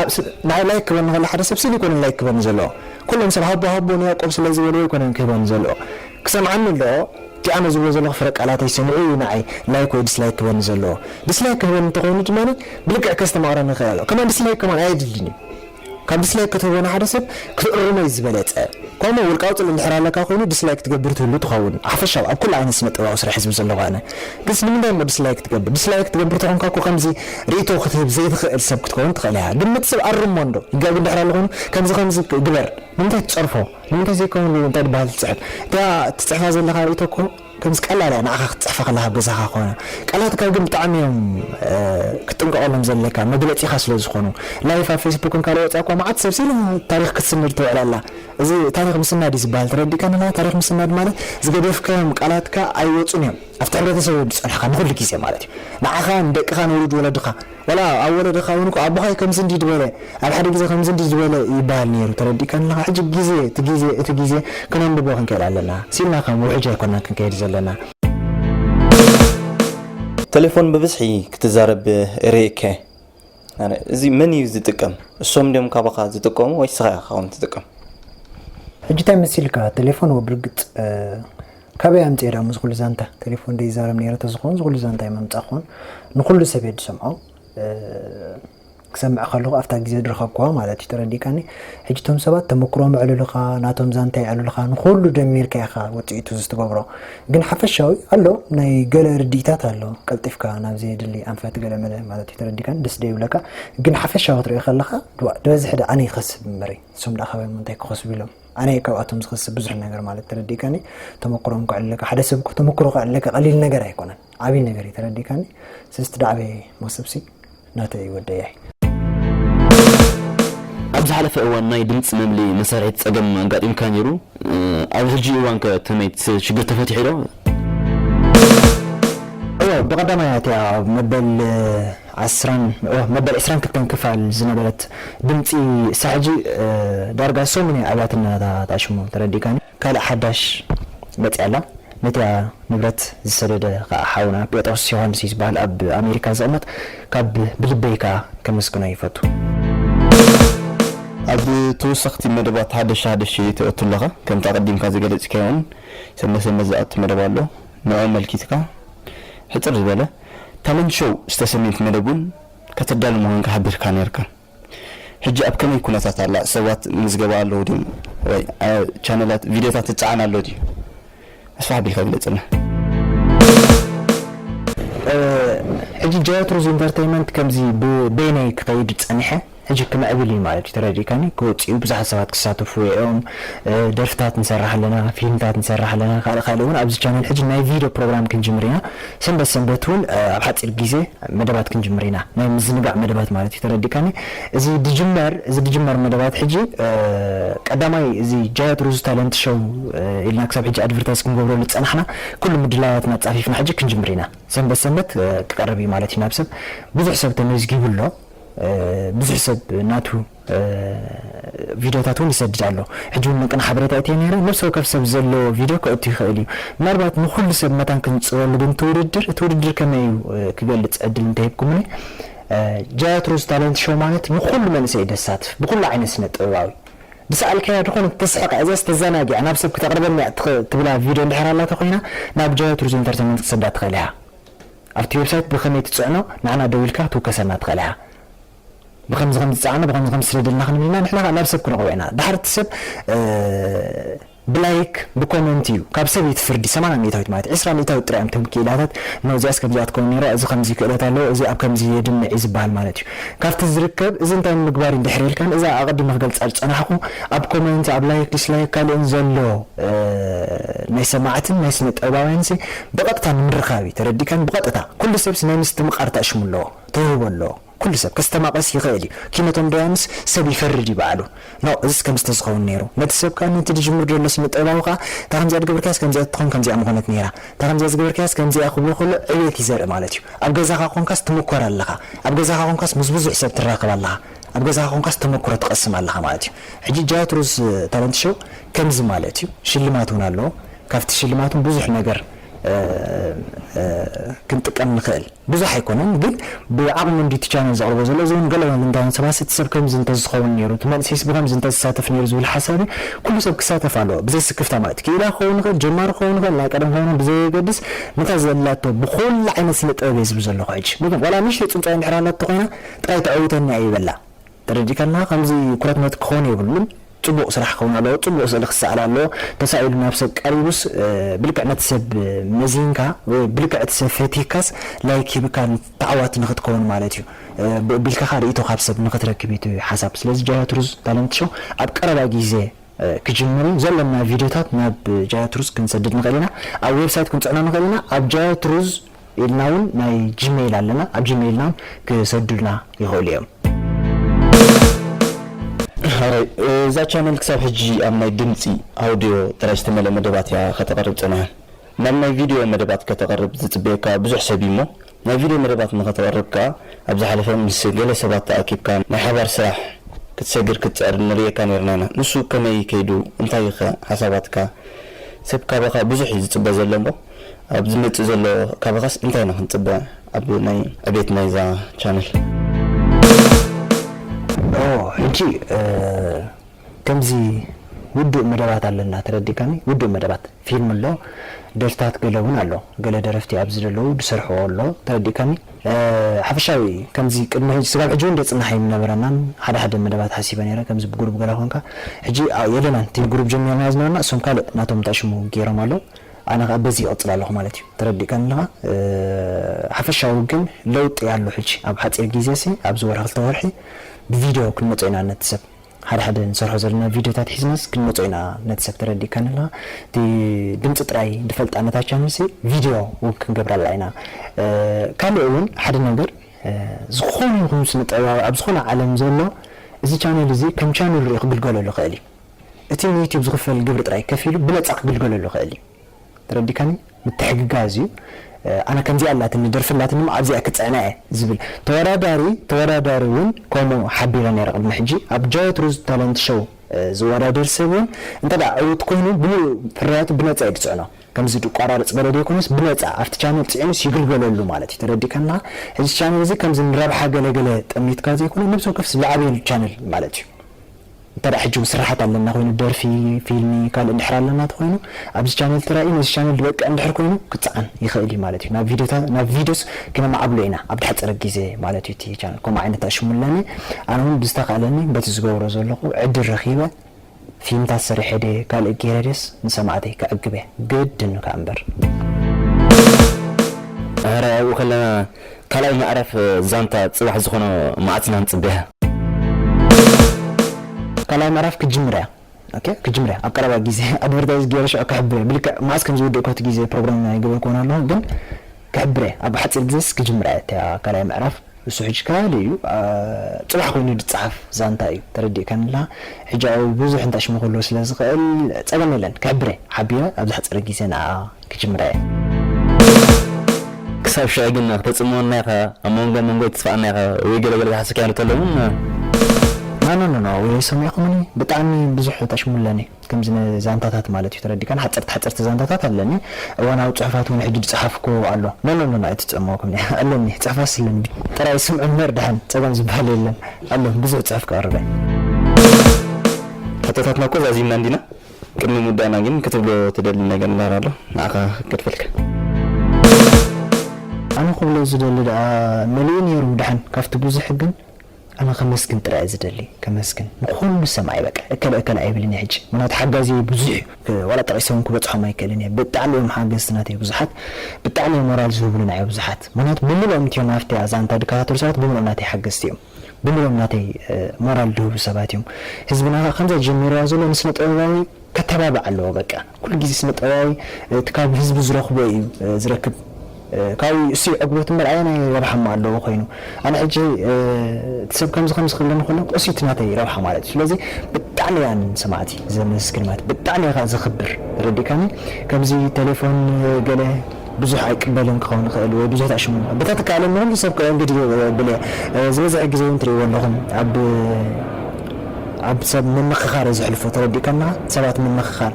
ንዓይ ላይክ ክበኒ ከሎ ሓደ ሰብ ሲል ኣይኮነን ላይክ ክበኒ ዘልኦ ኩሎም ሰብ ሃቦ ሃቦ ንያቆብ ስለ ዝበልዎ ኣይኮነን ክህበኒ ዘልኦ ክሰምዓኒ ኣለኦ እቲ ኣነ ዝብሎ ዘለኩ ፍረ ቃላተይ ሰሚዑ ኢዩ ንዓይ ላይክ ወይ ድስላይክ ክበኒ ዘልኦ ድስላይክ ክህበኒ እንተ ኮይኑ ድማ ብልክዕ ከስተማቅረኒ ይክእል ኣሎ ከማን ድስላይክ ከማን ኣየድልን ኢዩ ካብ ዲስላይክ ክትህቦ ንሓደ ሰብ ክትእርሞ እዩ ዝበለጸ ከምኡ ውን ውልቃዊ ጽልኢ እንድሕር ኣለካ ኮይኑ ዲስላይክ ትገብር ትህሉ ትኸውን ሓፈሻዊ ኣብ ኩሉ ዓይነት ስነጥበባዊ ስራሕ ህዝቢ ዘለኹ ኣነ ግንስ ንምንታይ እሞ ዲስላይክ ትገብር ዲስላይክ ትገብር ተኾንካ እኮ ከምዚ ሪኢቶ ክትህብ ዘይትኽእል ሰብ ክትከውን ትኽእል ኢኻ ግምት ስብ ኣርሞ እንዶ ይጋገ እንድሕር ኣሎ ኮይኑ ከምዚ ከምዚ ግበር ንምንታይ ትጸርፎ ንምንታይ ዘይከውን እንታይ ድበሃል ትጽሕፍ እታ ትጽሕፋ ዘለኻ ሪኢቶ እኮ ከምዚ ቀላል እያ ንዓኻ ክትጽሕፋ ከለኻ ኣብ ገዛኻ ኮነ። ቃላትካ ግን ብጣዕሚ እዮም ክትጥንቀቐሎም ዘለካ መግለጺኻ ስለ ዝኾኑ። ላይፍ ኣብ ፌስቡክን ካልእ ወጺኣ እኳ መዓት ሰብ ሲላ ታሪኽ ክትስንድ ትውዕል ኣላ። እዚ ታሪኽ ምስናድ እዩ ዝበሃል ተረዲእካ ንላ ታሪኽ ምስናድ ማለት ዝገደፍካዮም ቃላትካ ኣይወጹን እዮም ኣብቲ ሕብረተሰብ ዝጸንሕካ ንኹሉ ግዜ ማለት እዩ ንዓኻ ንደቅኻ ንውሉድ ወለድኻ ወላ ኣብ ወለደኻ ውን እኮ ኣቦኻይ ከምዚ እንዲዩ ድበለ ኣብ ሓደ ግዜ ከምዚ እንዲዩ ድበለ ይባሃል ኔሩ ተረዲእካኒ ኣለኻ ሕጂ ግዜ እቲ ግዜ እቲ ግዜ ክነንብቦ ክንክእል ኣለና ሲኢልና ከም ውሕጅ ኣይኮናን ክንከይድ ዘለና። ተሌፎን ብብዝሒ ክትዛረብ እርእ እከ ኣነ እዚ መን እዩ ዝጥቀም እሶም ድዮም ካባኻ ዝጥቀሙ ወይስ ስኻ ኢኻ ትጥቀም? ሕጂ ታይ መሲልካ ተሌፎን ወብርግጽ ካበይ ኣምጺኤ ድኣሞ እዚ ኩሉ ዛንታ ቴሌፎን ዶ ይዛረብ ኔረ ተዝኮን እዚ ኩሉ ዛንታ ምምጻእ ኮን ንኩሉ ሰብ እየ ድሰምዖ ክሰምዕ ከለኩ ኣብታ ግዜ ድረከብኩዋ ማለት እዩ ተረዲእካኒ ሕጂ እቶም ሰባት ተመክሮም የዕልሉካ ናቶም ዛንታ የዕልሉካ ንኩሉ ደሚርካ ኢካ ውጽኢቱ ዝትገብሮ ግን ሓፈሻዊ ኣሎ ናይ ገለ ርድኢታት ኣሎ ቀልጢፍካ ናብ ዘየድሊ ኣንፈት ገለ መለ ማለት እዩ ተረዲእካኒ ደስ ደ ይብለካ ግን ሓፈሻዊ ክትሪኦ ከለካ ድበዝሒ ደኣ ኣነ ይከስብ እምበሪ እሶም ደኣ ካበይ እንታይ ክከስቡ ኢሎም ኣነ ካብኣቶም ዝኸስብ ብዙሕ ነገር ማለት ተረዲእካኒ ተመክሮም ክዕልለካ ሓደ ሰብ ተመክሮ ክዕልለካ ቀሊል ነገር ኣይኮነን ዓብይ ነገር እዩ ተረዲእካኒ ስለዚ ትዳዕበየ መክሰብሲ ናተ እዩ ወደያይ ኣብ ዝሓለፈ እዋን ናይ ድምፂ መምሊ መሳርሒት ፀገም ኣጋጢምካ ነይሩ ኣብ ሕጂ እዋን ከ ተመይ ሽግር ተፈቲሑ ዶ? እወ ብቀዳማይ ኣትያ መበል ዓስራን ኦህ መበል ዕስራን ክልተን ክፋል ዝነበረት ድምጺ ሳሕጂ ዳርጋ ሰሙን እያ ኣብያትን ናታ ሽሙ ተረዲእካኒ ካልእ ሓዳሽ መጺኣ ኣላ ነቲኣ ንብረት ዝሰደደ ካኣ ሓውና ጴጥሮስ ዮሃንስ እዩ ዝባሃል ኣብ ኣሜሪካ ዝቅመጥ ካብ ብልበይ ካኣ ከመስግኖ ይፈቱ። ኣብ ተወሰኽቲ መደባት ሃደሽ ሃደሽ ትእቱ ኣለኻ ከምቲ ኣቐዲምካ ዝገለጽካዮ'ውን ሰንበት ሰንበት ዝኣቱ መደብ ኣሎ ንዕኡ ኣመልኪትካ ሕጽር ዝበለ ታለንት ሾው ዝተሰምየት መደብ ውን ከተዳሉ ምዃንካ ሓቢርካ ኔርካ ሕጂ ኣብ ከመይ ኩነታት ኣላ ሰባት ምዝገባ ኣለዉ ድዮም ወይ ኣብ ቻነላት ቪድዮታት ይጻዓን ኣሎ ድዩ ኣስፍሕ ኣቢልካ ግለጽልና። ሕጂ ጃያት ሩዝ ኢንተርተይመንት ከምዚ ብበይነይ ክከይድ ጸኒሐ። ሕጂ ክምዕብል እዩ ማለት እዩ ተረዲእካኒ ክወጽእ እዩ ብዙሓት ሰባት ክሳተፍዎ እዮም ደርፍታት ንሰርሕ ኣለና ፊልምታት ንሰርሕ ኣለና ካልእ ካልእ እውን ኣብዚ ቻነል ሕጂ ናይ ቪድዮ ፕሮግራም ክንጅምር ኢና ሰንበት ሰንበት እውን ኣብ ሓጺር ግዜ መደባት ክንጅምር ኢና ናይ ምዝንጋዕ መደባት ማለት እዩ ተረዲእካኒ እዚ ድጅመር እዚ ድጅመር መደባት ሕጂ ቀዳማይ እዚ ጃያት ሩዝ ታለንት ሸው ኢልና ክሳብ ሕጂ ኣድቨርታይዝ ክንገብረሉ ዝጸናሕና ኩሉ ምድላያትና ጻፊፍና ሕጂ ክንጅምር ኢና ሰንበት ሰንበት ክቀርብ እዩ ማለት እዩ ናብ ሰብ ብዙሕ ሰብ ተመዝጊቡ ኣሎ ብዙሕ ሰብ ናቱ ቪድዮታት እውን ይሰድድ ኣሎ ሕጂ እውን ምቅን ሓበሬታ እትየ ነይረ ነብሲ ወከፍ ሰብ ዘለዎ ቪድዮ ከእቱ ይኽእል እዩ ምናልባት ንኹሉ ሰብ መታን ክንጽረሉ ግን እቲ ውድድር እቲ ውድድር ከመይ እዩ ክገልጽ ዕድል እንተሂብኩምኒ ጃያትሮስ ታለንት ሾው ማለት ንኹሉ መንእሰይ ደሳትፍ ብኹሉ ዓይነት ስነ ጥበባዊ ብሰኣልካያ ድኾነ ተስሕቀ እዛ ዝተዘናጊዐ ናብ ሰብ ክተቅርበኒ ትብላ ቪድዮ እንድሕር ኣላተ ኮይና ናብ ጃያትሩስ ኢንተርቴንመንት ክሰዳ ትኽእል ኢኻ ኣብቲ ዌብሳይት ብኸመይ ትጽዕኖ ንዓና ደዊልካ ክትውከሰና ትኽእል ኢኻ። ብኸምዚ ከምዚ ጸዓኖ ብኸምዚ ከምዚ ስደደልና ክንብል ኢና ንሕና ከኣ ናብ ሰብ ክንረኽቦ ኢና። ድሓር እቲ ሰብ ብላይክ ብኮመንት እዩ ካብ ሰብ እዩ እቲ ፍርዲ ሰማንያ ሚእታዊት ማለት እዩ። ዕስራ ሚእታዊት ጥራይ እዮም እቶም ክኢላታት እነሆ እዚኣስ ከምዚኣ ክትከውን ኔርዋ እዚ ከምዚ ክእለት ኣለዎ እዚ ኣብ ከምዚ የድምዕ እዩ ዝበሃል ማለት እዩ። ካብቲ ዝርከብ እዚ እንታይ ንምግባር እዩ ድሕር ኢልካ እዛ ኣቐዲመ ክገልጻ ዝጸናሕኩ ኣብ ኮመንት ኣብ ላይክ ዲስላይክ ካልእን ዘሎ ናይ ሰማዕትን ናይ ስነ ጥበባውያንሲ ብቐጥታ ንምርኻብ እዩ ተረዲእካኒ ብቐጥታ ኩሉ ሰብስ ናይ ምስትምቓር ተእሽሙ ኣለዎ ተውህቦ ኣለዎ ኩሉ ሰብ ከስተማቕርስ ይኽእል እዩ ኪነቶም ደያኑስ ሰብ ይፈርድ እዩ ባዕሉ ኖእ እዝስ ከምዚ ተዝኸውን ነይሩ ነቲ ሰብ ከኣ ነቲ ድጅምር ደሎ ስነጥበባዊ ከኣ እታ ከምዚኣ ድገበርካያስ ከምዚኣ ትትኾን ከምዚኣ ምኾነት ነይራ እታ ከምዚኣ ዝገበርካያስ ከምዚኣ ክብሎ ከሎ ዕብየት እዩ ዘርኢ ማለት እዩ ኣብ ገዛኻ ኮንካስ ትምኮር ኣለኻ ኣብ ገዛኻ ኮንካስ ምስ ብዙሕ ሰብ ትራኸብ ኣለኻ ኣብ ገዛኻ ኮንካስ ተመኩሮ ትቐስም ኣለኻ ማለት እዩ ሕጂ ጃዋት ሩዝ ታለንት ሸው ከምዚ ማለት እዩ ሽልማት እውን ኣለዎ ካብቲ ሽልማቶም ብዙሕ ነገር ክንጥቀም ንኽእል። ብዙሕ ኣይኮነን ግን ብዓቕሚ እንድዩ እቲ ቻነል ዘቕርቦ ዘሎ። እዚ እውን ገለ ልምዳውያን ሰባት እቲ ሰብ ከምዚ እንተዝኸውን ነይሩ፣ እቲ መንእሰይስ ብኸምዚ እንተዝሳተፍ ነይሩ ዝብል ሓሳብ እዩ። ኩሉ ሰብ ክሳተፍ ኣለዎ ብዘይ ስክፍታ ማለት እዩ። ክኢላ ክኸውን ይኽእል፣ ጀማሪ ክኸውን ይኽእል፣ ናይ ቀደም ክኸውን ይኽእል ብዘየገድስ ነታ ዘላቶ ብኹሉ ዓይነት ስነ ጥበብ እየ ዝብል ዘለኹ ሕጂ። ዋላ ንእሽተይ ጽንጽዋይ እንድሕር ኣላቶ ኮይና ጥራይ ተዐውተኒ ኣይበላ። ተረዲእካና ከምዚ ኩረትነት ክኮን የብሉን ጽቡቅ ስራሕ ክከውን ኣለዎ ጽቡቅ ስእሊ ክሰኣል ኣለዎ ተሳኢሉ ናብ ሰብ ቀሪቡስ ብልክዕ ነቲ ሰብ መዚንካ ወይ ብልክዕ እቲ ሰብ ፈቲካስ ላይክ ሂብካ ተዓዋቲ ንክትከውን ማለት እዩ ብኡ ቢልካካ ሪኢቶ ካብ ሰብ ንክትረክብ እዩ እቲ ሓሳብ ስለዚ ጃያ ትሩዝ ታለንት ሾው ኣብ ቀረባ ጊዜ ክጅምር እዩ ዘሎና ቪድዮታት ናብ ጃያ ትሩዝ ክንሰድድ ንክእል ኢና ኣብ ዌብሳይት ክንጽዕኖ ንክእል ኢና ኣብ ጃያ ትሩዝ ኢልና ውን ናይ ጂመይል ኣለና ኣብ ጂመይልና ውን ክሰዱልና ይክእሉ እዮም። ሐራይ እዛ ቻነል ክሳብ ሕጂ ኣብ ናይ ድምጺ፣ Audio፣ ጥራይ ዝተመልኣ መደባት እያ ከተቕርብ ጸኒሓ። ናብ ናይ ቪድዮ መደባት ከተቕርብ ዝጽበየካ ብዙሕ ሰብ እዩ እሞ ናይ ቪድዮ መደባት ንኸተቕርብ ከኣ ኣብ ዝሓለፈ ምስ ገለ ሰባት ተኣኪብካ ናይ ሓባር ስራሕ ክትሰግር ክትጽዕር ንርእየካ ኔርና ኢና። ንሱ ከመይ ከይዱ? እንታይ'ኸ ሓሳባትካ? ሰብ ካባኻ ብዙሕ እዩ ዝጽበ ዘሎ እሞ። ኣብ ዝመጽእ ዘሎ ካባኻስ እንታይ ኢና ክንጽበ ኣብ ናይ ዕቤት ናይዛ ቻነል። ኦህ ሕጂ ከምዚ ውዱእ መደባት ኣለና ተረዲእካኒ ውዱእ መደባት ፊልም ኣሎ ደርፍታት ገለ ውን ኣሎ ገለ ደረፍቲ ኣብዚ ዘለዉ ድሰርሕዎ ኣሎ ተረዲእካኒ ሓፈሻዊ ከምዚ ቅድሚ ሕጂ ስጋብ ሕጂ ውን ደጽናሕ ኣይምነበረናን ሓደ ሓደ መደባት ሓሲበ ነይረ ከምዚ ብጉሩብ ገለ ኮንካ ሕጂ የለናን እቲ ብጉሩብ ጀሚርናዮ ዝነበርና እሶም ካልእ ናቶም እንታይ ሽሙ ጌሮም ኣለዉ ኣነ ከኣ በዚ ይቅጽል ኣለኩ ማለት እዩ ተረዲእካኒ ኣለካ ሓፈሻዊ ግን ለውጢ ኣሎ ሕጂ ኣብ ሓጺር ግዜ ሲ ኣብዚ ወርሒ ክልተ ወርሒ ብቪድዮ ክንመጾ ኢና ነቲ ሰብ ሓደ ሓደ ንሰርሖ ዘለና ቪድዮታት ሒዝናስ ክንመጾ ኢና ነቲ ሰብ ተረዲእካኒ ኣለካ እቲ ድምጺ ጥራይ ድፈልጣ ነታ ቻነል ሲ ቪድዮ ውን ክንገብረላ ኢና ካልእ ውን ሓደ ነገር ዝኮነ ይኩን ስነ ጥበባዊ ኣብ ዝኮነ ዓለም ዘሎ እዚ ቻነል እዚ ከም ቻነል ሪኡ ክግልገለሉ ይክእል እዩ እቲ ንዩቱብ ዝኽፈል ግብሪ ጥራይ ከፊሉ ብነጻ ክግልገለሉ ይኽእል እዩ ተረዲካኒ ምትሕግጋዝ እዩ ኣነ ከምዚኣ ኣላትኒ ደርፊ ኣላትኒ እሞ ኣብዚኣ ክጽዕና እየ ዝብል ተወዳዳሪ ተወዳዳሪ ውን ከምኡ ሓቢረ ነይረ ቅድሚ ሕጂ ኣብ ጃወት ሩዝ ታለንት ሸው ዝወዳደር ሰብ ውን እንተ ዕውት ኮይኑ ብምሉኡ ፍርያቱ ብነጻ እዩ ዝጽዕኖ ከምዚ ድቋራርጽ ገለ ዘይኮነስ ብነጻ ኣብቲ ቻነል ጽዒኑስ ይግልገለሉ ማለት እዩ ተረዲካና እዚ ቻነል እዚ ከምዚ ንረብሓ ገለ ገለ ጠሚትካ ዘይኮነ ነብሲ ወከፍስ ዝዓብየሉ ቻነል ማለት እዩ። እንተድኣ ሕጂ ውን ስርሓት ኣለና ኮይኑ ደርፊ ፊልሚ ካልእ እንድሕር ኣለና ተኮይኑ ኣብዚ ቻነል ተራእዩ ነዚ ቻነል ድበቅዕ እንድሕር ኮይኑ ክጸዓን ይክእል እዩ ማለት እዩ ናብ ቪድዮታት ናብ ቪድዮስ ክነማዕብሎ ኢና ኣብ ድሓጸረ ግዜ ማለት እዩ እቲ ቻነል ከምኡ ዓይነት ኣሽሙ ኣለኒ ኣነ ውን ብዝተካእለኒ በቲ ዝገብሮ ዘለኩ ዕድል ረኪበ ፊልምታት ሰሪሐ ድየ ካልእ ጌረ ድየስ ንሰማዕተይ ከዕግብ እየ ግድን ከኣ እምበር። ኣረ ኣብኡ ከለና ካልኣይ ምዕራፍ ዛንታ ጽባሕ ዝኾኖ መዓስ ኢና ክንጽበያ? ካልኣይ ምዕራፍ ክትጅምር እያ ኦኬ ክትጅምር እያ ኣብ ቀረባ ግዜ ኣድቨርታይዝ ገይረ ሽዑ ክሕብር እየ ብልክዕ መዓስ ከም ዝውድእ እኳ እቲ ግዜ ፕሮግራም ኣይገበርክዎን ኣለኹ ግን ክሕብር እየ ኣብ ሓጺር ግዜስ ክጅምራ እያ እታ ካልኣይ ምዕራፍ እሱ ሕጂ ካልእ እዩ ጽባሕ ኮይኑ ዝጸሓፍ ዛንታ እዩ ተረዲእካኒ ኣለኻ ሕጂ ኣብኡ ብዙሕ እንታይ ሽሙ ክህልዎ ስለ ዝኽእል ጸገም የለን ክሕብር እየ ሓቢረ ኣብ ዝሓጸረ ግዜ ንዓ ክጅምራ እየ። ክሳብ ሽዑ ግን ክተጽምወና ኢኻ ኣብ መንጎ መንጎይ ትጽፋኣና ኢኻ ወይ ገለ ገለ ዝሓሰካዮ እንተሎ ውን። ኖኖኖኖ ወይ ሰሚዕኩምኒ ብጣዕሚ ብዙሕ ተሽሙለኒ ከምዚ ን ዛንታታት ማለት እዩ ተረዲእካኒ ሓጸርቲ ሓጸርቲ ዛንታታት ኣለኒ እዋናዊ ጽሑፋት ውን ሕጂ ድጸሓፍኩዎ ኣሎ ኖኖኖኖ ኣይትጸመወኩኒ ኣለኒ ጽሕፋስ ኣለኒ ጥራይ ስምዑ እንበር ድሓን ጸገም ዝብሃል የለን ኣሎ ብዙሕ ጽሑፍ ክቅርብ እየ። ሕቶታትና እኮ ዛዚምና እንዲና። ቅድሚ ምውዳእና ግን ክትብሎ ትደሊ ነገር እንድሕር ኣሎ ንዓኻ ከድፈልካ። ኣነ ክብሎ ዝደሊ ደኣ መሊኡ ኔሩ ደሓን ካብቲ ብዙሕ ግን ኣነ ከመስግን ጥራይ እየ ዝደሊ ከመስግን ንኹሉ ሰማዒ በቃ እከለ እከለ ኣይብልን እየ ሕጂ ምኽንያቱ ሓጋዝየይ ብዙሕ እዩ ዋላ ጠቂሰ ውን ክበጽሖም ኣይክእልን እየ ብጣዕሚ እዮም ሓገዝቲ ናተይ ብዙሓት ብጣዕሚ እዮም ሞራል ዝህቡሉና እዮ ብዙሓት ምኽንያቱ ብምልኦም እትዮም ኣብቲ ዛንታ ድከታተሉ ሰባት ብምልኦም ናተይ ሓገዝቲ እዮም ብምልኦም ናተይ ሞራል ድህቡ ሰባት እዮም ህዝብና ከኣ ከምዛ ጀሚርዋ ዘሎ ንስነ ጥበባዊ ከተባብዕ ኣለዎ በቃ ኩሉ ግዜ ስነ ጥበባዊ እቲ ካብ ህዝቢ ዝረክቦ እዩ ዝረክብ ካብኡ እዩ እሱይ ዕግበቱ እምበር ኣየናይ ረብሓ እሞ ኣለዎ ኮይኑ ኣነ ሕጂ እቲ ሰብ ከምዚ ከምዚ ክብለኒ ከሎ እሱይ እቲ ናተይ ረብሓ ማለት እዩ ስለዚ ብጣዕሚ እያ ንሰማዕቲ ዘመስግን ማለት ብጣዕሚ እየ ከኣ ዘክብር ተረዲእካኒ ከምዚ ተሌፎን ገለ ብዙሕ ኣይቅበልን ክኸውን ይኽእል ወይ ብዙሕ ኣይትዕሽሙን ኢኹም በታ ትከኣለኒ ኩሉ ሰብ ከእንግድ የብል እየ ዝበዝሐ ግዜ ውን ትርእይዎ ኣለኹም ኣብ ኣብ ሰብ ምምኽኻር እየ ዘሕልፎ ተረዲእካ ኣለኻ ሰባት ምምኽኻር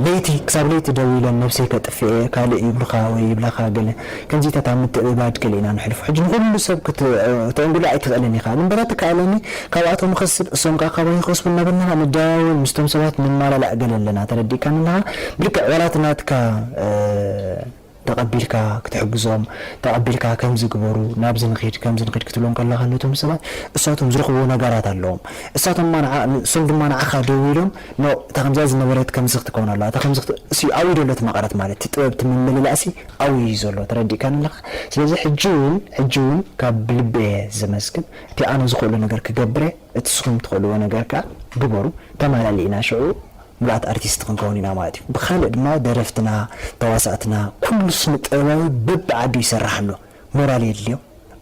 ለይቲ ክሳብ ለይቲ ደው ኢለ ነብሰይ ከጥፍእ እየ ካልእ ይብሉኻ ወይ ይብላኻ ገለ ከምዚታት ኣብ ምትእብባድ ገለ ኢና ነሕልፎ ሕጂ ንኹሉ ሰብ ክተእንግዶ ኣይትኽእልን ኢኻ ግን በታ ትከኣለኒ ካብኣቶም ንኸስብ እሶም ከኣ ካባይ ይኸስቡ እናበልናና ንደዋወል ምስቶም ሰባት ንማላላእ ገለ ኣለና ተረዲእካኒ ኣለኻ ብልክዕ ዋላ እቲ ናትካ ተቐቢልካ ክትሕግዞም ተቐቢልካ ከምዚ ግበሩ ናብዚ ንኺድ ከምዚ ንኺድ ክትብሎም ከለኻ ነቶም ሰባት እሳቶም ዝረኽብዎ ነጋራት ኣለዎም እሳቶም ድማ ንዓ እሶም ድማ ንዓኻ ደዊሎም ን እታ ከምዚኣ ዝነበረት ከምዚ ክትከውን ኣለዋ እታ ከምዚ ክት እሲ ኣብዩ ደሎ እቲ መቐረት ማለት እቲ ጥበብ እቲ ምምልላእሲ ኣብዩ እዩ ዘሎ ተረዲእካኒ ኣለኻ ስለዚ ሕጂ ውን ሕጂ ውን ካብ ልቢ እየ ዘመስግን እቲ ኣነ ዝኽእሎ ነገር ክገብር'የ፣ እቲ ስኹም ትኽእልዎ ነገር ከኣ ግበሩ፣ ተማላሊእና ሽዑ ምሉኣት ኣርቲስት ክንከውን ኢና ማለት እዩ። ብኻልእ ድማ ደረፍትና፣ ተዋሳእትና፣ ኩሉ ስነ-ጥበባዊ በብዓዱ ይሰርሕ ኣሎ፣ ሞራል የድልዮ፣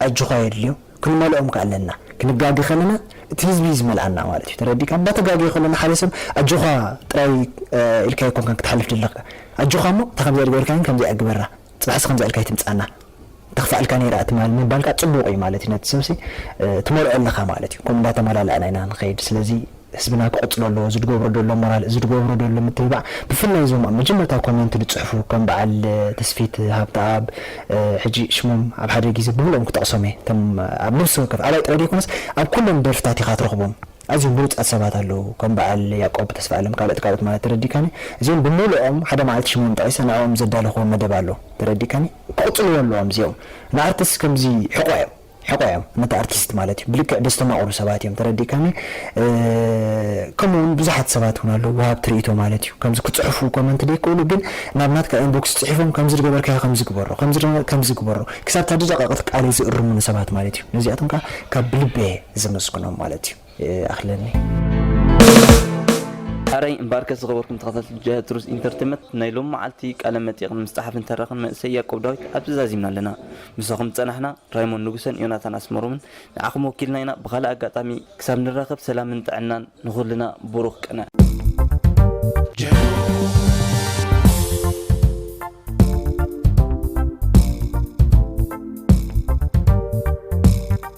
ኣጆኻ የድልዮ፣ ክንመልኦም ከኣ ኣለና፣ ክንጋገ ከለና እቲ ህዝቢ እዩ ዝመልኣና ማለት እዩ፣ ተረዲእካ፣ እንዳተጋገየ ከሎ ንሓደ ሰብ ኣጆኻ ጥራይ ኢልካዮ ኣይኮንካን ክትሓልፍ ደለኻ፣ ኣጆኻ'ሞ እታ ከምዚኣ ኣይትገበርካያን ከምዚኣ ግበራ፣ ጽባሕ እስኪ ከምዚኣ ኢልካ ኣይትምጻና ተክፋኣልካ ነይራ እቲ ማል ምባልካ ጽቡቅ ኢዩ ማለት ኢዩ ነቲ ሰብሲ ትመልኦ ኣለካ ማለት ኢዩ ከምኡ እንዳተማላላእና ኢና ንከይድ ስለዚ ህዝብና ክቅጽሎ ኣለዎ እዚ ድገብሮ ደሎ ሞራል እዚ ድገብሮ ደሎ ምትብባዕ ብፍላይ እዞም ኣብ መጀመርታ ኮመንት ድጽሕፉ ከም በዓል ተስፊት ሃብተኣብ ሕጂ ሽሞም ኣብ ሓደ ግዜ ብምልኦም ክጠቅሶም ኢየ እቶም ኣብ ነብሲ ወከፍ ኣባይ ጥራይ ደይኮነስ ኣብ ኩሎም ደርፍታት ኢካ ትረክቦም ኣዝዮም ብሉጻት ሰባት ኣለዉ ከም በዓል ያቆብ ተስፋኣለም ካልኦት ካልኦት ማለት ተረዲእካኒ እዚኦም ብምልኦም ሓደ መዓልቲ ሽሞም ጠቂሰ ንዕኦም ዘዳለኽዎ መደብ ኣሎ ተረዲእካኒ ክቅጽልዎ ኣለዎም እዚኦም ንኣርትስ ከምዚ ሕቆ እዮም ሕቆ እዮም ነቲ ኣርቲስት ማለት እዩ ብልክዕ ደስተማቅሩ ሰባት እዮም ተረዲእካኒ ከምኡ ውን ብዙሓት ሰባት ውን ኣለዉ ወሃብቲ ርእይቶ ማለት እዩ ከምዚ ክጽሕፉ ኮመንት ደይክእሉ ግን ናብ ናትካ ኢንቦክስ ጽሒፎም ከምዚ ድገበርካዮ ከምዚ ግበሮ ከምዚ ከምዚ ግበሮ ክሳብ እታ ድደቀቅት ቃለይ ዝእርሙኒ ሰባት ማለት እዩ ነዚኣቶም ከኣ ካብ ብልበየ ዘመስግኖም ማለት እዩ ይኣኽለኒ። ሐረይ እምበኣርከስ ዝኸበርኩም ተኸታተልቲ ጃህት ሩዝ ኢንተርቴመት ናይ ሎሚ መዓልቲ ቃለ መጠይቕ ንምስጣሓፍን ተራኽን መንእሰይ ያቆብ ዳዊት ኣብዚ ዛዚምና ኣለና ምሳኹም ዝጸናሕና ራይሞን ንጉሰን ዮናታን ኣስመሮምን ንዓኹም ወኪልና ኢና ብኻልእ ኣጋጣሚ ክሳብ ንራኸብ ሰላምን ጥዕናን ንኹልና ቡሩኽ ቅነ